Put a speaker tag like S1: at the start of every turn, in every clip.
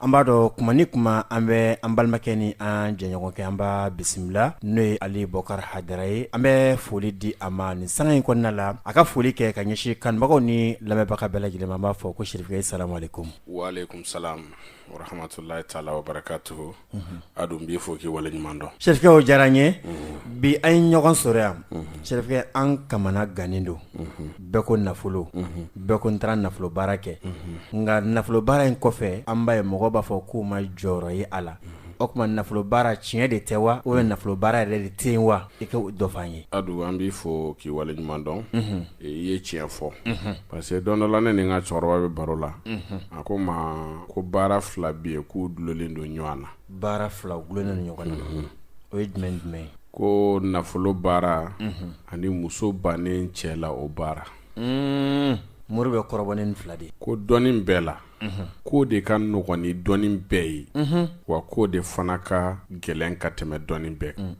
S1: An b'a dɔn kuma ni kuma an bɛ an balimakɛ ni an jɛɲɔgɔnkɛ an b'a bisimila n'o ye Ali Bukari Hayidara ye, an bɛ foli di a ma nin sanga in kɔnɔna la, a ka foli kɛ ka ɲɛsin kanubagaw ni lamɛnbaga bɛɛ lajɛlen ma, an b'a fɔ ko serifekɛ salamalekum, walekum salam warahmatulahi taala wabarakatuhu, unhun, a dun n b'i fo k'i waleɲuman dɔn, serifekɛ o diyara an ye, unhun, bi an ye ɲɔgɔn sɔrɔ yan, unhun, serifekɛ an kamana gannen don, unhun. bɛɛ ko nafolo bɛɛ ko n taara nafolo baara kɛ nka nafolo baara in kɔfɛ an b'a ye mɔgɔ b'a fɔ k'u ma jɔyɔrɔ ye a la o tuma nafolo baara tiɲɛ de tɛ wa o ye nafolo baara yɛrɛ de tɛ wa i ka dɔ fɔ an ye a don an b'i fo k'i waleɲuman dɔn i ye tiɲɛ fɔ parce que don dɔ la ne ni n ka cɛkɔrɔba bɛ baro la a ko n ma ko baara fila bɛ yen k'u dulonnen don ɲɔgɔn na baara fila dulonnen don ɲɔgɔn na o ye jumɛn jumɛn ye ko nafolo baara ani muso bannen cɛ la o baara Mm, mori bɛ kɔrɔbɔ ni nin fila de ye ko dɔnni bɛɛ la k'o de ka nɔgɔn ni dɔnni bɛɛ ye wa k'o de fana ka gɛlɛn ka tɛmɛ dɔnni bɛɛ kan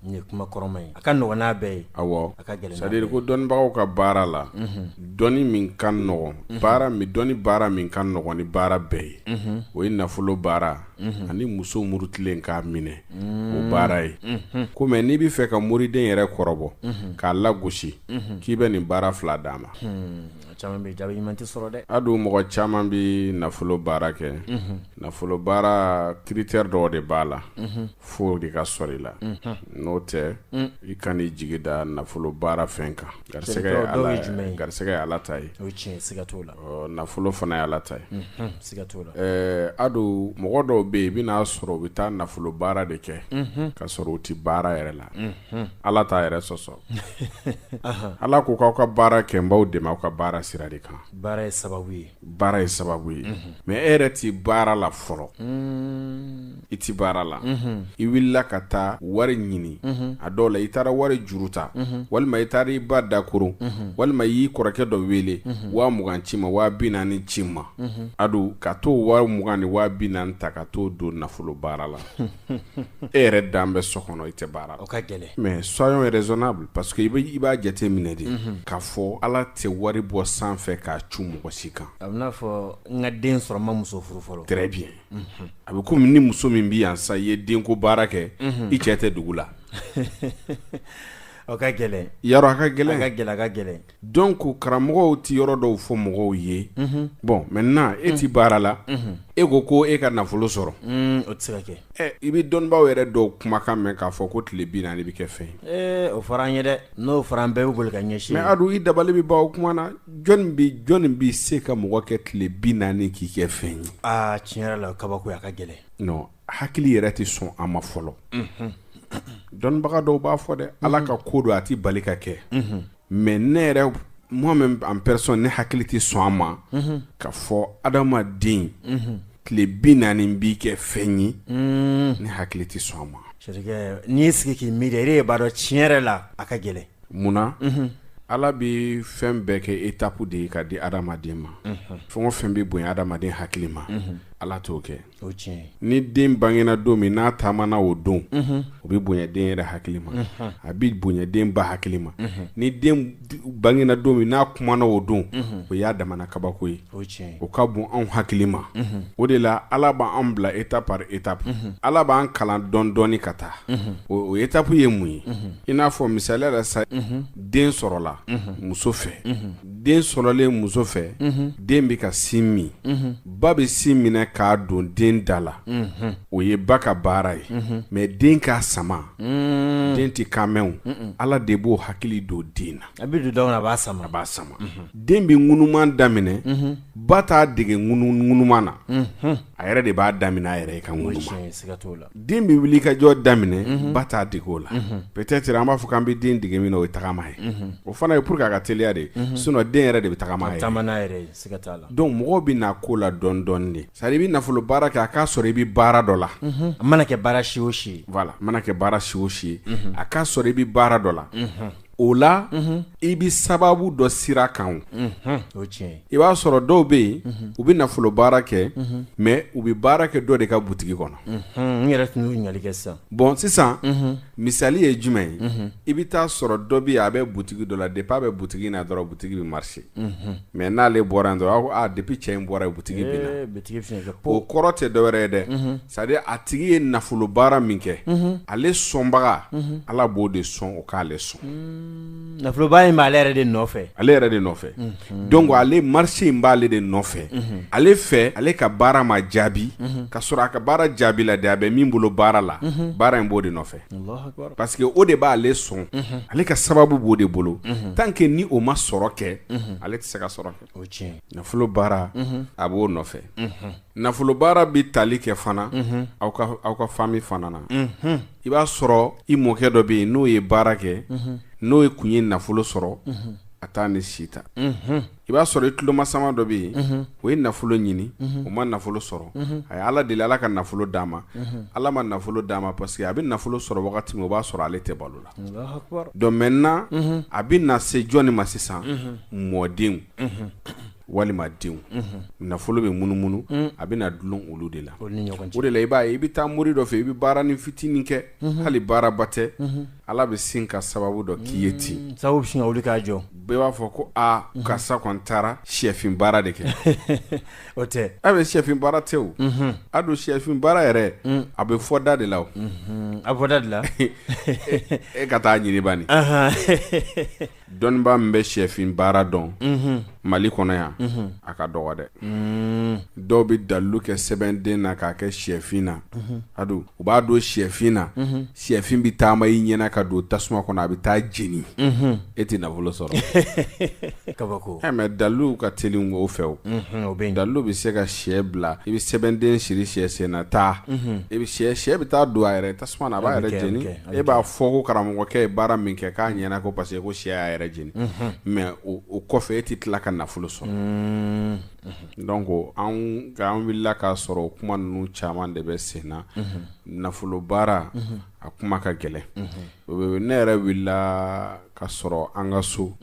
S1: Nin ye kuma kɔrɔma ye a ka nɔgɔn n'a bɛɛ ye awɔ a ka gɛlɛn n'a bɛɛ ye c'est à dire ko dɔnnibagaw ka baara la unhun dɔnni min ka nɔgɔn unhun baara min dɔnni baara min ka nɔgɔn ni baara bɛɛ ye unhun o ye nafolo baara unhun ani muso murutilen k'a minɛ uun o baara ye unhun ko mais n'i bi fɛ ka moriden yɛrɛ kɔrɔbɔ unhun k'a lagosi unhun k'i bɛ nin baara 2 d'a ma hunn a caman bɛ yen jaabi ɲuman tɛ sɔrɔ dɛ a dun mɔgɔ caman bi nafolo baara kɛ unhun nafolo baara critère dɔw de b'a la unhun fo o de ka sɔrɔ i la n'o tɛ i kana i jigi da nafolo baara fɛn kan garisɛgɛ garisɛgɛ ye ala ta ye nafolo fana ye ala ta ye a dun mɔgɔ dɔw bɛ yen i bɛn'a sɔrɔ u bɛ taa nafolo baara de kɛ k'a sɔrɔ u tɛ baara yɛrɛ la ala t'a yɛrɛ sɔsɔ ala ko k'aw ka baara kɛ n b'aw dɛmɛ aw ka baara sira de kan baara ye sababu ye baara ye sababu ye mais e yɛrɛ tɛ baara la fɔlɔ i tɛ baara la i wulila ka taa wari ɲini a dɔw la i taara wari juru ta walima i taara i ba dakoron walima i y'i kɔrɔkɛ dɔ wele waa mugan ci i ma waa bi naani ci i ma a dun ka t'o waa mugan ni waa bi naani ta ka t'o don nafolo baara la e yɛrɛ dan bɛ so kɔnɔ i tɛ baara la. O ka gɛlɛn. Mais soyons raisonnables parce que i bɛ i b'a jate minɛ de. Unhun. K'a fɔ Ala tɛ wari bɔ sanfɛ k'a cu mɔgɔ si kan. A bɛ n'a fɔ n ka den sɔrɔ n ma muso furu fɔlɔ. Très bien . Unhun. A bɛ komi ni muso min bɛ yan sisan i ye denko baara kɛ. Unhun. I cɛ tɛ dugu la. O ka gɛlɛn. Yarɔ a ka gɛlɛn. A ka gɛlɛn a ka gɛlɛn. Donc karamɔgɔw tɛ yɔrɔ dɔw fɔ mɔgɔw ye bɔn maintenant e tɛ baara la e ko ko e ka nafolo sɔrɔ o tɛ se ka kɛ i bɛ dɔnnibaw yɛrɛ dɔw kumakan mɛn k'a fɔ ko tile bi naani de bɛ kɛ fɛn o fɔra an yɛrɛ dɛ n'o fɔra an bɛɛ bɛ boli ka ɲɛsin adu i dabali bɛ ban o kuma na jɔn bɛ jɔnni bɛ se ka mɔgɔ kɛ tile bi naani k'i kɛ fɛn ye aa tiɲɛ yɛrɛ la kabako a ka gɛlɛn hakili yɛrɛ tɛ sɔn a ma fɔlɔ dɔnnibaga dɔw b'a fɔ dɛ ala ka ko don a tɛ bali ka kɛ mɛ ne yɛrɛ moi-même en personne ne hakili tɛ sɔn a ma k'a fɔ adamaden tile bi naani b'i kɛ fɛn ye ne hakili tɛ sɔn a ma n'i y'i sigi k'i miiri e b'a dɔn tiɲɛ yɛrɛ la a ka gɛlɛn munna ala bɛ fɛn bɛɛ kɛ étape de ye ka di adamaden ma fɛn o fɛn bɛ bonya adamaden hakili ma ala t'o kɛ ni den bangena don min n'a taamana o don o bɛ bonya den yɛrɛ hakili ma a bɛ bonya den ba hakili ma ni den bangena don min n'a kumana o don o y'a damana kabako ye o ka bon anw hakili ma o de la ala b'an bila étape par étape ala b'an kalan dɔɔnin dɔɔnin ka taa o étape ye mun ye i n'a fɔ misaliya la sa den sɔrɔla muso fɛ den sɔrɔlen muso fɛ den bɛ ka sin min ba bɛ sin minɛ k'a don den da la o ye ba ka baara ye mɛ den k'a sama den tɛ kan mɛn ala de b'o hakili don den na a bɛ don a b'a sama b'a sama den bɛ ŋunuma daminɛ ba t'a dege ŋunuma na a yɛrɛ de b'a daminɛ a yɛrɛ i ka ŋunuma den bɛ wuli ka jɔ daminɛ ba t'a dege o la peut-être an b'a fɔ k'an bɛ den dege min na o ye tagama ye o fana ye pour que a ka teliya de sinon den yɛrɛ de bɛ tagama donc mɔgɔ bɛ na ko la dɔɔnin dɔɔnin de c'est-à-dire i bɛ nafolo baara kɛ a k'a sɔrɔ i bɛ baara dɔ la a mana kɛ baara si o si mana kɛ baara si o si a k'a sɔrɔ i bɛ baara dɔ la o la i bɛ sababu dɔ sira kan i b'a sɔrɔ dɔw bɛ yen u bɛ nafolo baara kɛ mɛ u bɛ baara kɛ dɔ de ka butigi kɔnɔ n yɛrɛ tun ɲininkali kɛ sisan bɔn sisan misali ye jumɛn ye i bɛ t'a sɔrɔ dɔ bɛ yen a bɛ butigi dɔ la de b'a bɛ butigi in na dɔrɔn butigi bɛ marcher mɛ n'ale bɔra yen dɔrɔn a depuis cɛ in bɔra yen butigi binna o kɔrɔ tɛ dɔwɛrɛ ye dɛ c'est-à-dire a tigi ye nafolo baara min kɛ ale sɔnbaga ala b'o de sɔn o k'ale sɔn nafoloba in b'ale yɛrɛ de nɔfɛ ale yɛrɛ de nɔfɛ donc ale marché in b'ale de nɔfɛ ale fɛ ale ka baara ma jaabi k'a sɔrɔ a ka baara jaabila de a bɛ min bolo baara la baara in b'o de nɔfɛ Parce que o de b'ale sɔn ale ka sababu b'o de bolo tan kɛ ni o ma sɔrɔ kɛ ale tɛ se ka sɔrɔ kɛ nafolo baara a b'o nɔfɛ nafolo baara bɛ tali kɛ fana aw aw ka famille fana na i b'a sɔrɔ i mɔkɛ dɔ bɛ yen n'o ye baara kɛ n'o ye kun ye nafolo sɔrɔ a taa ni sita i b'a sɔrɔ i tulomasama dɔ bɛ yen o ye nafolo ɲini o ma nafolo sɔrɔ a ye ala deli ala ka nafolo d'a ma ala ma nafolo d'a ma parce que a bɛ nafolo sɔrɔ wagati min o b'a sɔrɔ ale tɛ balo la donc maintenant a bɛ na se jɔnni ma sisan mɔdenw walima denw nafolo bɛ munumunu a bɛ na dulon olu de la o de la i b'a ye i bɛ taa mori dɔ fɛ i bɛ baaranin fitinin kɛ hali baaraba tɛ Ala bɛ sin ka sababu dɔ k'i ye ten mm, sababu sin ka wuli k'a jɔ bɛɛ b'a fɔ ko aa mhm. karisa kɔni taara shɛfin baara de kɛ o tɛ a bɛɛ shɛfin baara tɛ o mhm. a dun shɛfin baara yɛrɛ mm. a bɛ fɔ da de la o mhm. a bɛ fɔ da de la e ka taa ɲini bani dɔnnibaa min bɛ shɛfin baara dɔn mali kɔnɔ yan a ka dɔgɔ dɛ dɔw bɛ dalu kɛ sɛbɛnden na k'a kɛ shɛfin na a u b'a don shɛfin na shɛfin bɛ taama i ɲɛna ka don tasuma kɔnɔ a bɛ taa jeni e tɛ nafolo sɔrɔ mais dalu ka teli o fɛ o dalu bɛ se ka shɛ bila i bɛ sɛbɛnden siri shɛ sen na taa i bɛ shɛ bɛ taa don a yɛrɛ tasuma a b'a yɛrɛ jeni e b'a fɔ ko karamɔgɔkɛ ye baara min kɛ k'a ɲɛna ko parce que ko shɛ y'a yɛrɛ jeni mais o kɔfɛ e tɛ tila ka nafolo sɔrɔ mm. donc an wulila k'a sɔrɔ o kuma ninnu caman de bɛ sen na nafolo baara a kuma ka gɛlɛn ne yɛrɛ wulila ka sɔrɔ an ka so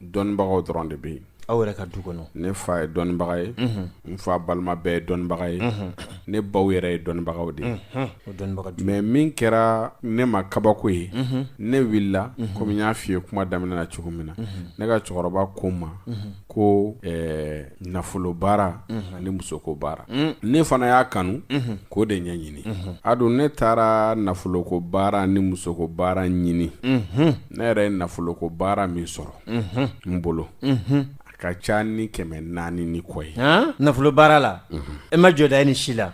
S1: dɔnnibagaw dɔrɔn de bɛ yen Aw yɛrɛ ka du kɔnɔ. Ne fa ye dɔnnibaga ye. Unhun. N fa balima bɛɛ ye dɔnnibaga ye. Unhun. Ne baw yɛrɛ ye dɔnnibagaw de ye. Unhun. O dɔnnibaga du. Mais min kɛra ne ma kabako ye. Unhun. Ne wulila. Unhun. Comme n y'a f'i ye kuma daminɛ na cogo min na. Unhun. Ne ka cɛkɔrɔba ko n ma. Unhun. Ko ɛɛ nafolo baara. Unhun. Ani musoko baara. Un! Ne fana y'a kanu. Unhun. K'o de ɲɛɲini. Unhun. A dun ne taara nafoloko baara ni musoko baara ɲini. Unhun. Ne yɛrɛ ye nafoloko baara min sɔrɔ. n bolo a ka ca ni kɛmɛ naani ni kɔ ye nafolo baara la e ma jɔda ye nin si la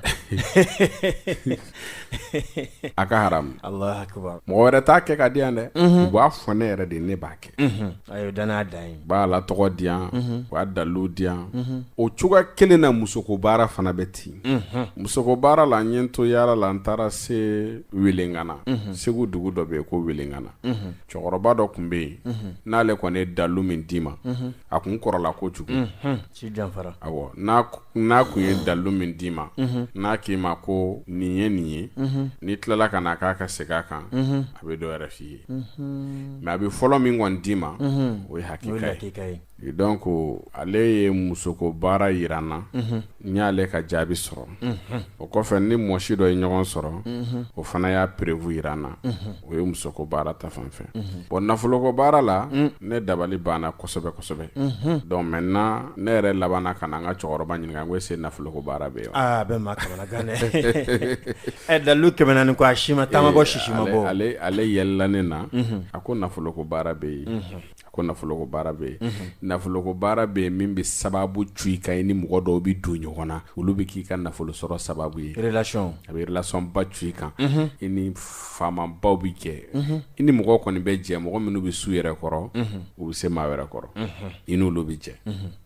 S1: a ka ha mɔgɔ wɛrɛ t'a kɛ k'a di yan dɛ u b'a fɔ ne yɛrɛ de ne b'a kɛ a dan n'a da b'a alatɔgɔ di yan u b'a dalu di yan o cogoya kelen na musoko baara fana bɛ ten musoko baara la n ɲɛ to yaala la n taara se welengana segu dugu dɔ bɛ yen ko welengana cɛkɔrɔba dɔ tun bɛ yen n'ale kɔni ye dalu min d'i ma a tun kɔrɔla kojugu n'a tun ye dalu min d'i ma n'a k'i ma ko nin ye nin ye n'i tilala ka na k'a ka segin a kan a bɛ dɔ wɛrɛ f'i ye mɛ a bɛ fɔlɔ min kɔni d'i ma o ye hakika ye donc ale ye musoko baara jira n na n y'ale ka jaabi sɔrɔ o kɔfɛ n ni mɔsi dɔ ye ɲɔgɔn sɔrɔ o fana y'a perefu jira n na o ye musoko baara ta fan fɛ bɔn nafoloko baara la ne dabali banna kosɛbɛ kosɛbɛ donc maintenant ne yɛrɛ labanna ka na n ka cɛkɔrɔba ɲininka ko ɛsi nafoloko baara bɛ yen a bɛ ma ɛ dalu tɛmɛna ni ko a si ma ta ma bɔ sisi ma bɔ ale yɛlɛla ne na a ko nafoloko baara bɛ yen ko nafolo ko baara bɛ yen nafolo ko baara bɛ yen min bɛ sababu cun i kan i ni mɔgɔ dɔw bɛ don ɲɔgɔn na olu bɛ k'i ka nafolo sɔrɔ sababu ye relation a bɛ relation ba cun i kan i ni faama baw bɛ jɛ i ni mɔgɔ kɔni bɛ jɛ mɔgɔ minnu bɛ s'u yɛrɛ kɔrɔ u bɛ se maa wɛrɛ kɔrɔ i n'olu bɛ jɛ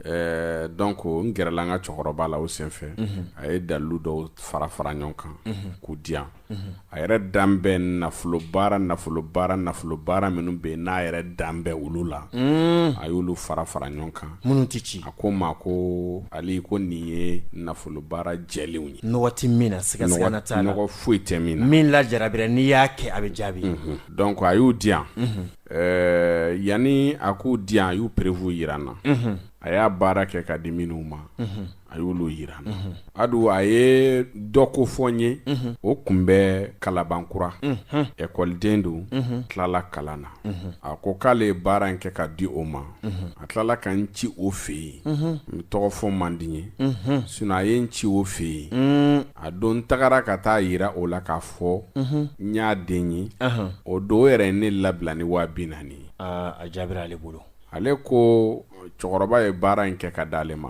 S1: ɛɛ donc n gɛrɛla n ka cɛkɔrɔba la o senfɛ a ye dalilu dɔw fara fara ɲɔgɔn kan k'u di yan a yɛrɛ dalen bɛ nafolo baara nafolo baara nafolo baara minnu bɛ n'a yɛrɛ dalen bɛ olu la mm. a y'olu fara fara ɲɔgɔn kan minnu tɛ ci a ko n ma ko ale ko nin ye nafolo baara jɛlenw ye nɔgɔ tɛ min na sigasiga t'a la nɔgɔ foyi tɛ min na min lajarabira n'i y'a kɛ a bɛ jaabi mhm. donc a y'u di yan mhm. eh, yanni a k'u di yan a y'u perewu jira n na mhm. a y'a baara kɛ ka di minnu ma A y'olu jira an na. Unhun. A don a ye dɔ kofɔ n ye. Unhun. O tun bɛ Kalabankura. Unhun. École den don. Unhun. Tilala kalan na. Unhun. A ko k'ale ye baara in kɛ ka di o ma. Unhun. A tilala ka n ci o fɛ yen. Unhun. Tɔgɔ fɔ man di n ye. Unhun. Sinon a ye n ci o fɛ yen. Uun. A don n tagara ka t'a jira o la k'a fɔ. Unhun. N y'a den ye. Anhan. O don o yɛrɛ ye ne labila ni 40.000 ye. Aa a jaabira ale bolo. ale ko cɛkɔrɔba ye baara in kɛ ka di ale ma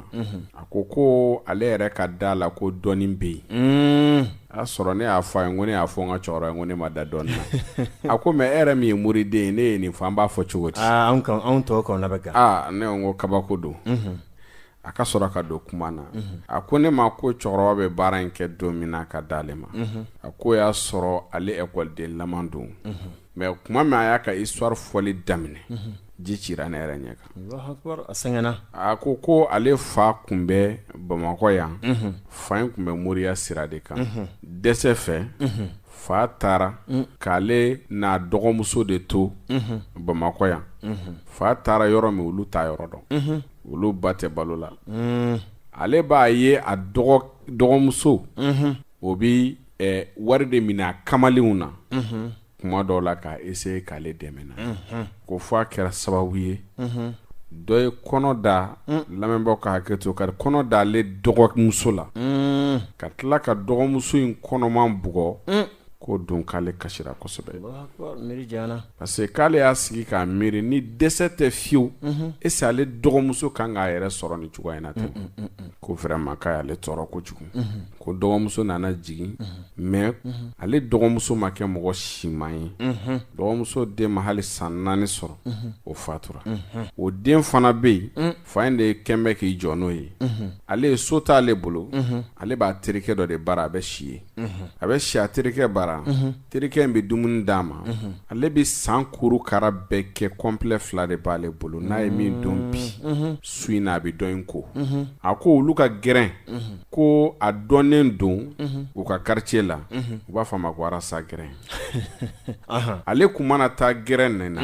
S1: a ko ko ale yɛrɛ ka da a la ko dɔnni bɛ yen y'a sɔrɔ ne y'a fɔ a ye ko ne y'a fɔ n ka cɛkɔrɔba ye ko ne ma da dɔnni na ko mɛ e yɛrɛ min ye moriden ye n'e ye nin fɔ an b'a fɔ cogo di anw tɔgɔ kɔnɔ bɛ kɛ ne ko kabako don a ka sɔrɔ ka don kuma na a ko ne ma ko cɛkɔrɔba bɛ baara in kɛ don min na ka di ale ma a ko y'a sɔrɔ ale ekɔliden lama don mɛ tuma min a y'a ka histoire fɔli daminɛ ji cira ne yɛrɛ ɲɛ kan a sɛgɛnna a ko ko ale fa tun bɛ bamakɔ yan fa in tun bɛ moriya sira de kan dɛsɛ fɛ fa taara k'ale n'a dɔgɔmuso de to bamakɔ yan fa taara yɔrɔ min olu t'a yɔrɔ dɔn olu ba tɛ balo la ale b'a ye a dɔgɔmuso o bɛ wari de mina a kamalenw na kuma dɔw la k'a essayer k'ale dɛmɛ na ko fo a kɛra sababu ye dɔ ye kɔnɔ da lamɛnbaw ka hakɛ to ka kɔnɔ da ale dɔgɔmuso la ka tila ka dɔgɔmuso in kɔnɔman bugɔ k'o don k'ale kasira kosɛbɛ parce que k'ale y'a sigi k'a miiri ni dɛsɛ tɛ fiyewu est-ce ale dɔgɔmuso ka kan k'a yɛrɛ sɔrɔ ni cogoya in na ten ko vraiment k'a y'ale tɔɔrɔ kojugu ko dɔgɔmuso nana jigin mɛn ale dɔgɔmuso ma kɛ mɔgɔ siman ye dɔgɔmuso den ma hali san naani sɔrɔ o fatura o den fana bɛ yen fa in de kelen bɛ k'i jɔ n'o ye ale ye so t'ale bolo ale b'a terikɛ dɔ de bara a bɛ si yen a bɛ si a terikɛ bara terikɛ in bɛ dumuni d'a ma ale bɛ san kuru kara bɛɛ kɛ kɔnplɛ fila de b'ale bolo n'a ye min don bi su in na a bɛ dɔ in ko a ko olu ka gɛrɛn ko a dɔnnen don u ka quartier la u b'a fɔ a ma ko sa gɛrɛn ale tun mana taa gɛrɛn n na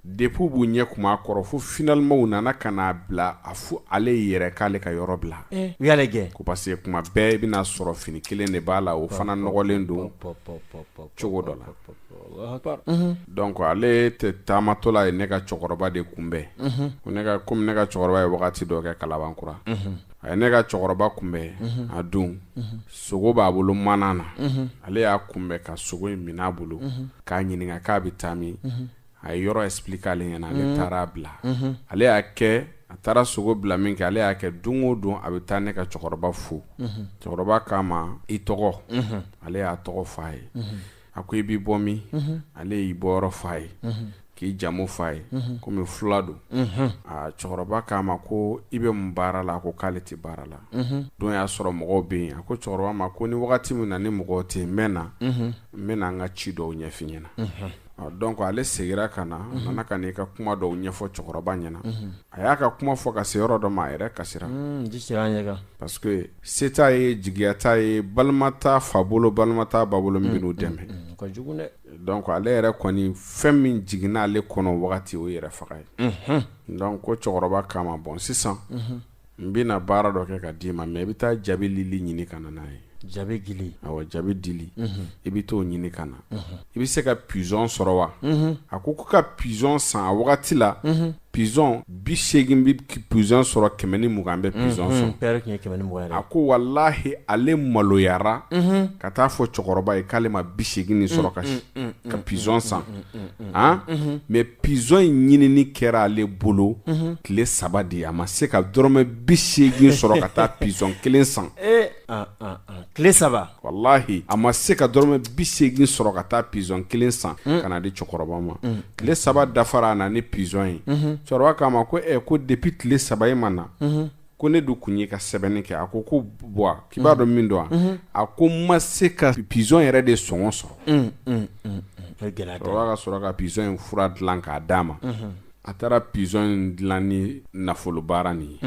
S1: Depuis b'u ɲɛ kumu a kɔrɔ fo finalement u nana ka n'a bila a fɔ ale ye yɛrɛ k'ale ka yɔrɔ bila u y'ale gɛn ko parce que kuma bɛɛ i bɛna'a sɔrɔ fini kelen de b'a la o fana nɔgɔlen don cogo dɔ la donc ale tɛ taamatɔla ye ne ka cɛkɔrɔba de kunbɛn ko ne kɔmi ne ka cɛkɔrɔba ye wagati dɔ kɛ Kalabankura a ye ne ka cɛkɔrɔba kunbɛn a don sogo b'a bolo mana na ale y'a kunbɛn ka sogo in mina a bolo k'a ɲininka k'a bɛ taa min a ye yɔrɔ explique ale ɲɛna ale mhm. taara a bila mhm. ale y'a kɛ a taara sogo bila min kɛ ale y'a kɛ don o don a bɛ taa ne ka cɛkɔrɔba fo mhm. cɛkɔrɔba k'a ma i tɔgɔ ale y'a tɔgɔ fɔ a ye a ko i bɛ bɔ min ale y'i bɔyɔrɔ fɔ a ye k'i jamu fɔ a ye komi fila don a cɛkɔrɔba k'a ma ko i bɛ mun baara la a ko k'ale tɛ baara la don y'a sɔrɔ mɔgɔw bɛ yen a ko cɛkɔrɔba ma ko ni wagati min na ni mɔgɔw tɛ yen n bɛ na n bɛ na n ka ci dɔw ɲɛfɔ i ɲɛna Donc ale seginna ka na nana ka n'i ka kuma dɔw ɲɛfɔ cɛkɔrɔba ɲɛna a y'a ka kuma fɔ ka se yɔrɔ dɔ ma a yɛrɛ kasira parce que se t'a ye jigiya t'a ye balima t'a fa bolo balima t'a ba bolo min bɛn'u dɛmɛ donc ale yɛrɛ kɔni fɛn min jigin'ale kɔnɔ wagati o yɛrɛfaga ye donc ko cɛkɔrɔba k'a ma bon sisan n bɛna baara dɔ kɛ ka d'i ma mɛn i bɛ taa jabi lili ɲini ka na n'a ye jabi dili awɔ jabi dili i bɛ t'o ɲini ka na i bɛ se ka pigeon sɔrɔ wa a ko ko ka pigeon san a wagati la pigeon bi segin bɛ pigeon sɔrɔ kɛmɛ ni mugan bɛ pigeon sɔrɔ a ko walahi ale maloyara ka t'a fɔ cɛkɔrɔba ye k'ale ma bi segin sɔrɔ ka pigeon san a mɛ pigeon in ɲinini kɛra ale bolo tile saba de ye a ma se ka dɔrɔmɛ bi segin sɔrɔ ka taa pigeon kelen san tile saba walahi a ma se ka dɔrɔmɛ bi segin sɔrɔ ka taa pigeon kelen san ka n'a di cɛkɔrɔba ma tile saba dafara a na ni pigeon ye cɛkɔrɔba k'a ma ko ɛɛ ko depuis tile saba i ma na ko ne dun tun y'i ka sɛbɛnni kɛ a ko ko bɔn k'i b'a dɔn min don wa a ko n ma se ka pigeon yɛrɛ de sɔngɔ sɔrɔ Mm, mm, mm, mm. O ye gɛlɛya dɔ ye. cɛkɔrɔba ka sɔrɔ ka pigeon in fura dilan k'a d'a ma a taara pigeon in dilan ni nafolo baara nin ye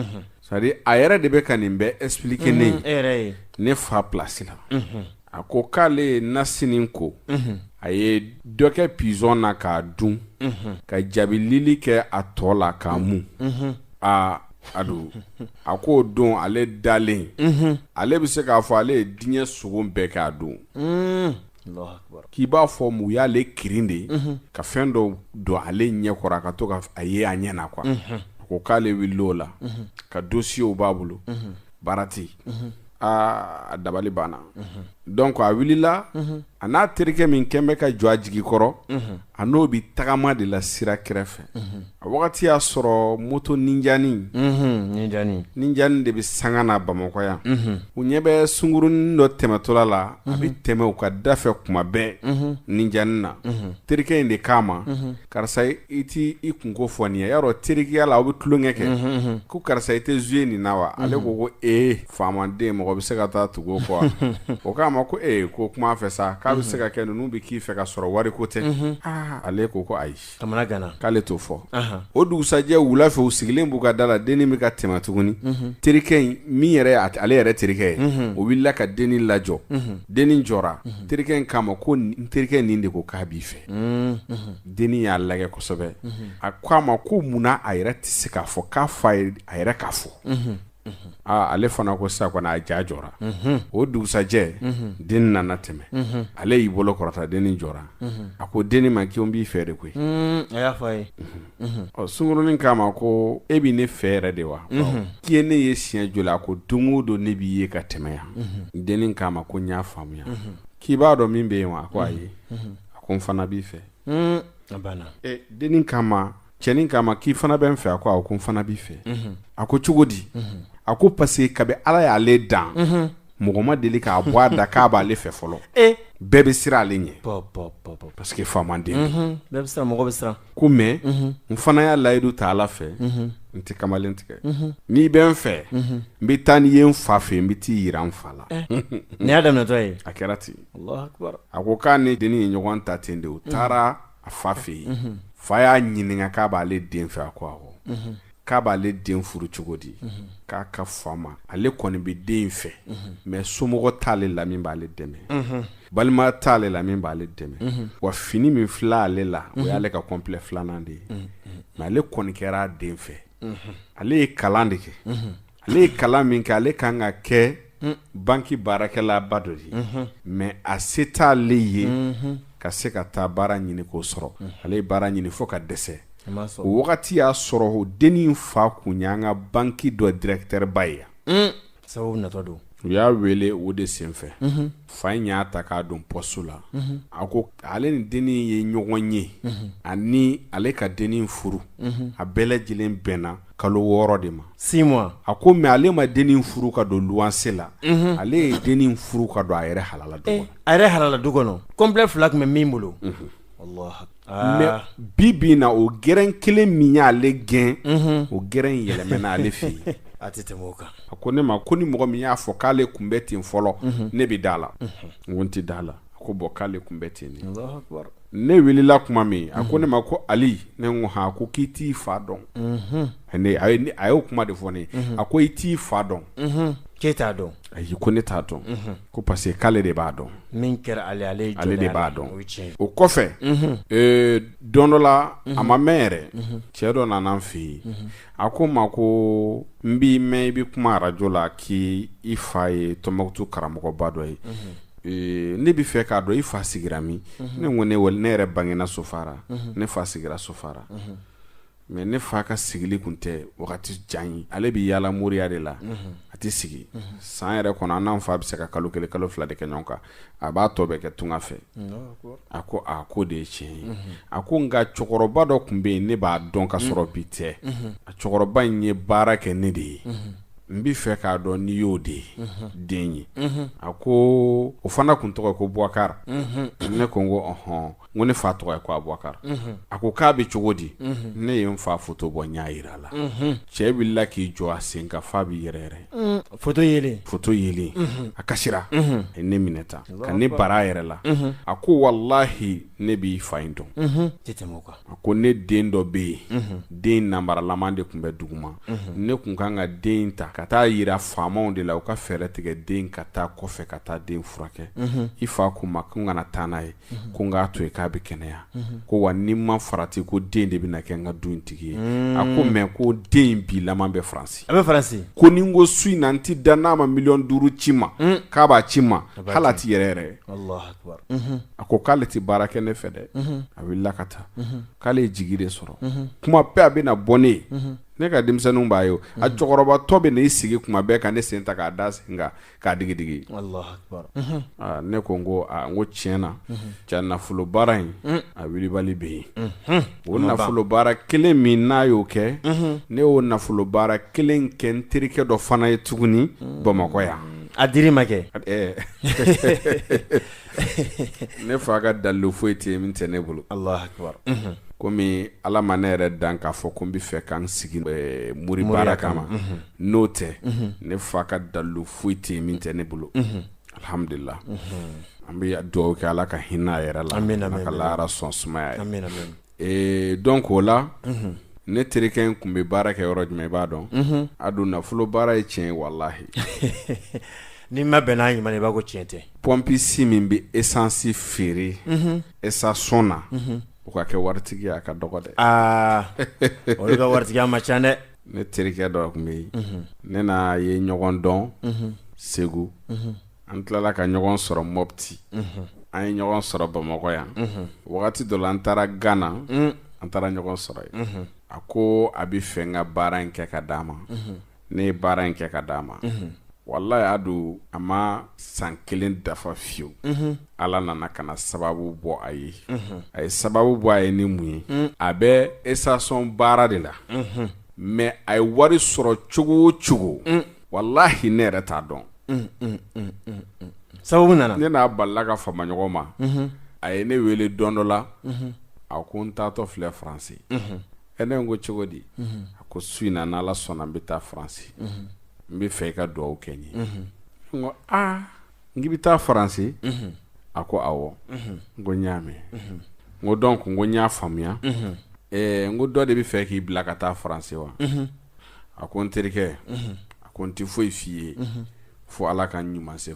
S1: c'est à dire a yɛrɛ de bɛ ka nin bɛɛ expliquer ne ye Mm, e yɛrɛ ye ne fa place la A ko k'ale ye nasi nin ko a ye dɔ kɛ pigeon na k'a dun ka jaabilili kɛ a tɔ la k'a mun aa a don a k'o don ale dalen ale bɛ se k'a fɔ ale ye diɲɛ sogo bɛɛ kɛ a don k'i b'a fɔ mɔgɔ y'ale kirin de ka fɛn dɔ don ale ɲɛ kɔrɔ a ka to k'a ye a ɲɛ na a ko k'ale wulila o la ka dossierw b'a bolo baara tɛ yen aa a dabali banna donc a wulila a n'a terikɛ min kɛlen bɛ ka jɔ a jigi kɔrɔ a n'o bɛ tagama de la sira kɛrɛfɛ a wagati y'a sɔrɔ moto ninjanin ninjanin de bɛ sanga na bamakɔ yan u ɲɛ bɛ sungurunin dɔ tɛmɛtɔla la a bɛ tɛmɛ u ka da fɛ kuma bɛɛ ninjanin na terikɛ in de k'a ma karisa i tɛ i kun ko fɔ n ye yɔrɔ teriya la aw bɛ tulon kɛ ko karisa i tɛ jouer nin na wa ale ko ko e faamaden mɔgɔ bɛ se ka taa tugu kɔ o k'a ma ko e ko kuma fɛ sa k'a bɛ se ka kɛ ninnu bɛ k'i fɛ ka sɔrɔ wari ko tɛ ale ko ko ayi k'ale t'o fɔ o dugusɛjɛ wula fɛ u sigilen b'u ka da la dennin bɛ ka tɛmɛ tuguni terikɛ in min ye ale yɛrɛ terikɛ ye o wulila ka dennin lajɔ dennin jɔ terikɛ in k'a ma ko n terikɛ nin de ko k'a b'i fɛ dennin y'a lajɛ kosɛbɛ a ko a ma ko mun na a yɛrɛ tɛ se k'a fɔ k'a fɔ a yɛrɛ k'a fɔ aaa ale fana ko sisan kɔni a ja jɔra o dugusɛjɛ dennin nana tɛmɛ ale y'i bolo kɔrɔta dennin jɔra a ko dennin ma k'e b'i fɛ de koyi a y'a fɔ a ye ɔ sungurunin k'a ma ko e bɛ ne fɛ yɛrɛ de wa k'i ye ne ye siɲɛ joli a ko don o don ne b'i ye ka tɛmɛ yan dennin k'a ma ko n y'a faamuya k'i b'a dɔn min bɛ yen wa a ko ayi a ko n fana b'i fɛ dennin k'a ma cɛnin k'a ma k'i fana bɛ n fɛ a ko awɔ ko n fana b'i fɛ a ko cogo di a ko parce que kabi ala y'ale dan mɔgɔ ma deli k'a bɔ a da k'a b'ale fɛ fɔlɔ bɛɛ bɛ siran ale ɲɛ parce que faamaden bɛɛ bɛ mɔgɔ bɛ siran ko mɛ n fana y'a layidu ta ala fɛ n tɛ kamalen tigɛ n'i bɛ n fɛ n bɛ taa n'i ye n fa fɛ n bɛ t'i jira n fa la nin y'a daminɛtɔ ye a kɛra ten a ko k'a ni den ye ɲɔgɔn ta ten de u taara a fa fɛ yen fa y'a ɲininka k'a b'ale den fɛ a ko k'a b'ale den furu cogo di k'a k'a fɔ a ma ale kɔni bɛ den in fɛ mɛ somɔgɔ t'ale la min b'ale dɛmɛ balima t'ale la min b'ale dɛmɛ wa fini min filɛ ale la o y'ale ka kɔnplɛ filanan de ye mɛ ale kɔni kɛra den fɛ ale ye kalan de kɛ ale ye kalan min kɛ ale kan ka kɛ banki baarakɛlaba dɔ ye mɛ a se t' ale ye ka se ka taa baara ɲini k'o sɔrɔ ale ye baara ɲini fo ka dɛsɛ o wagati y'a sɔrɔ o dennin fa kun y'an ka banki dɔ dirɛkitɛriba ye yan sabu natɔ don u y'a wele o de senfɛ fa in y'a ta k'a don pɔsiti la a ko ale ni dennin ye ɲɔgɔn ye ani ale ka dennin furu a bɛɛ lajɛlen bɛnna kalo wɔɔrɔ de ma si a ko mɛ ale ma dennin furu ka don luwanse la mhm. ale ye dennin furu ka don a yɛrɛ halala du eh, a yɛrɛ halala du kɔnɔ kɔnplɛ fila tun bɛ min bolo mhm. mɛ ah. bi bi na o gɛrɛn kelen min y'ale gɛn mhm. o gɛrɛn in yɛlɛmɛna ale fɛ yen a tɛ tɛmɛ o kan a ko ne ma ko ni mɔgɔ min y'a fɔ k'ale tun bɛ ten fɔlɔ ne bɛ da a la n ko n tɛ da a la a ko bɔn k'ale tun bɛ ten ne wulila tuma min a ko ne ma ko ali ne ko han a ko k'i t'i fa dɔn a y'o kuma de fɔ n ye a ko i t'i fa dɔn k'e t'a dɔn ayi ko ne t'a dɔn ko parce que k'ale de b'a dɔn min kɛra ale ale ale de b'a dɔn o kɔfɛ don dɔ la a ma mɛɛn yɛrɛ cɛ dɔ nana n fɛ yen a ko n ma ko n b'i mɛn i bɛ kuma arajo la k'i fa ye tɔnbɔkutu karamɔgɔba dɔ ye ee, ne b'a fɛ k'a dɔn i fa sigira min ne ko ne walahi ne yɛrɛ bangena sofara ne fa sigira sofara mɛ ne fa ka sigili kun tɛ wagati jan ye ale bɛ yaala moriya de la a tɛ sigi san yɛrɛ kɔnɔ an n'an fa bɛ se ka kalo kelen kalo fila de kɛ ɲɔgɔn kan a b'a tɔ bɛ kɛ tunga fɛ a ko a ko o de ye tiɲɛ ye a ko nka cɛkɔrɔba dɔ tun bɛ yen ne b'a dɔn ka sɔrɔ bi tɛ a cɛkɔrɔba in ye baara kɛ ne de ye n b'a fɛ k'a dɔn n'i y'o de den ye a ko o fana tun tɔgɔ ko bubakari ne ko n ko ɔhɔn ko ne fa tɔgɔ ye ko abubakari a ko k'a bɛ cogo di ne ye n fa foto bɔ n y'a jira a la cɛ wulila k'i jɔ a sen kan f'a bɛ yɛrɛyɛrɛ foto ye foto ye a kasi a ye ne minɛ tan ka ne bari a yɛrɛ la a ko walahi ne b'i fa in dɔn a ko ne den dɔ bɛ yen den nabaralama de tun bɛ duguma ne tun kan ka den ta ka taa a jira faamaw de la u ka fɛɛrɛ tigɛ den ka taa kɔfɛ ka taa den furakɛ i fa ko n ma ko n kana taa n'a ye mhm. ko n'a to yen k'a bɛ kɛnɛya mhm. ko wa ni n ma farati ko den de bɛna kɛ n ka du tigi ye mm. a ko mɛ ko den bi laman bɛ faransi a bɛ faransi ko ni n ko su in na n tɛ da n'a ma miliyɔn duuru ci n ma mm. k'a b'a ci n ma hali a tɛ yɛrɛyɛrɛ mhm. a ko k'ale tɛ baara kɛ ne fɛ dɛ a wulila ka taa k'ale ye jigi de sɔrɔ kuma bɛɛ a bɛ na bɔ ne ye ne ka denmisɛnninw b'a ye a cɛkɔrɔbatɔ bɛ n'i sigi kuma bɛɛ ka ne sen ta k'a da a sen kan k'a digi digi ne ko n ko n ko tiɲɛ na cɛ nafolo baara in a wulibali bɛ yen o nafolo baara kelen min n'a y'o kɛ ne y'o nafolo baara kelen kɛ n terikɛ dɔ fana ye tuguni bamakɔ yan a di ma kɛ ne fa ka dalilu foyi tɛ yen min tɛ ne bolo kɔmi ala ma ne yɛrɛ dan k'a fɔ ko n b'a fɛ ka n sigi mori baara kama n'o tɛ ne fa ka dalilu foyi tɛ yen min tɛ ne bolo alihamdulila an bɛ dugawu kɛ ala ka hinɛ a yɛrɛ la ka lahara sɔn sumaya Ee dɔnki o la ne terikɛ in tun bɛ baara kɛ yɔrɔ jumɛn i b'a dɔn a don nafolo baara ye tiɲɛ ye walahi n'i ma bɛn n'a ɲuman i b'a fɔ ko tiɲɛ tɛ pɔnpisi min bɛ esansi feere esasɔn na o ka kɛ waritigi ye a ka dɔgɔ dɛ aa o ka waritigi man ca dɛ ne terikɛ dɔ tun bɛ yen ne n'a ye ɲɔgɔn dɔn segu an tilala ka ɲɔgɔn sɔrɔ mɔpti an ye ɲɔgɔn sɔrɔ bamakɔ yan wagati dɔ la an taara gana an taara ɲɔgɔn sɔrɔ yen a ko a b'a fɛ n ka baara in kɛ k'a d'a ma ne ye baara in kɛ k'a d'a ma walahi a don a ma san kelen dafa fiyewu ala nana ka na sababu bɔ a ye a ye sababu bɔ a ye ni mun ye a bɛ esasɔn baara de la mɛ a ye wari sɔrɔ cogo o cogo walahi ne yɛrɛ t'a dɔn sabu nana ne n'a balila ka fama ɲɔgɔn ma a ye ne wele don dɔ la a ko n taatɔ filɛ faransi ee ne ko cogo di a ko su in na n'ala sɔnna n bɛ taa faransi n b'a fɛ i ka dugawu kɛ n ye n ko aa n k'i bɛ taa faransi a ko awɔ n ko n y'a mɛn n ko dɔnki n ko n y'a faamuya n ko dɔ de b'a fɛ k'i bila ka taa faransi wa a ko n terikɛ a ko n tɛ foyi f'i ye fo ala ka n ɲuman se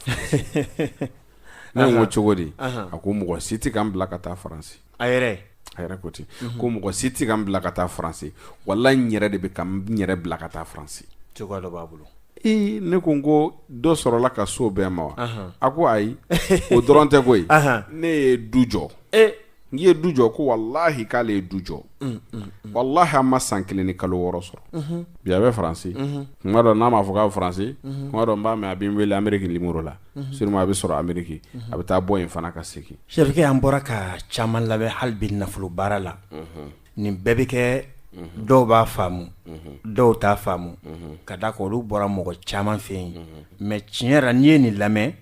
S1: n ko cogo di a ko mɔgɔ si tɛ ka n bila ka taa faransi a yɛrɛ a yɛrɛ ko ten ko mɔgɔ si tɛ ka n bila ka taa faransi wala n yɛrɛ de bɛ ka n yɛrɛ bila ka taa faransi cogoya dɔ b'a bolo ee ne ko n ko dɔ sɔrɔla ka so b'e ma wa a ko ayi o dɔrɔn tɛ koyi ne ye du jɔ n k'i ye du jɔ ko walahi k'ale ye du jɔ mm, mm, mm. walahi a ma san kelen ni kalo wɔɔrɔ sɔrɔ mm-hmm. bi a bɛ faransi mm-hmm. kuma dɔ n'a ma fɔ k'a bɛ faransi mm-hmm. kuma dɔ n b'a mɛn a bɛ n wele ameriki limoro la suruma a bɛ sɔrɔ ameriki a bɛ taa bɔ yen fana ka segin sɛrikɛ an bɔra ka caman lamɛn hali bi nafolo baara la nin bɛɛ bɛ kɛ dɔw b'a faamu dɔw t'a faamu ka d'a kan olu bɔra mɔgɔ caman fɛ yen mɛ tiɲɛ yɛrɛ n'i ye nin lamɛn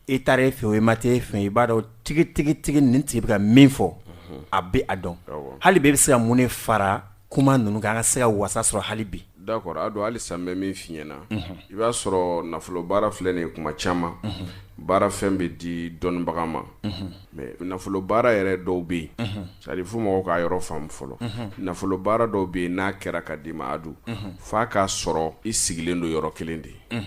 S1: e taara yen fɛ o e ma taa yen fɛ i b'a dɔn tigitigitigi nin tigi bɛ ka min fɔ a bɛ a dɔn hali bi i bɛ se ka mun fara kuma ninnu kan an ka se ka wasa sɔrɔ hali bi D'accord a don hali sa an bɛ min fiɲɛ na i b'a sɔrɔ nafolo baara filɛ nin kuma caman baara fɛn bɛ di dɔnnibaga ma mɛ nafolo baara yɛrɛ dɔw bɛ yen sari fo mɔgɔw k'a yɔrɔ faamu fɔlɔ nafolo baara dɔw bɛ yen n'a kɛra ka d'i ma adu f'a k'a sɔrɔ i sigilen don yɔrɔ kelen de ye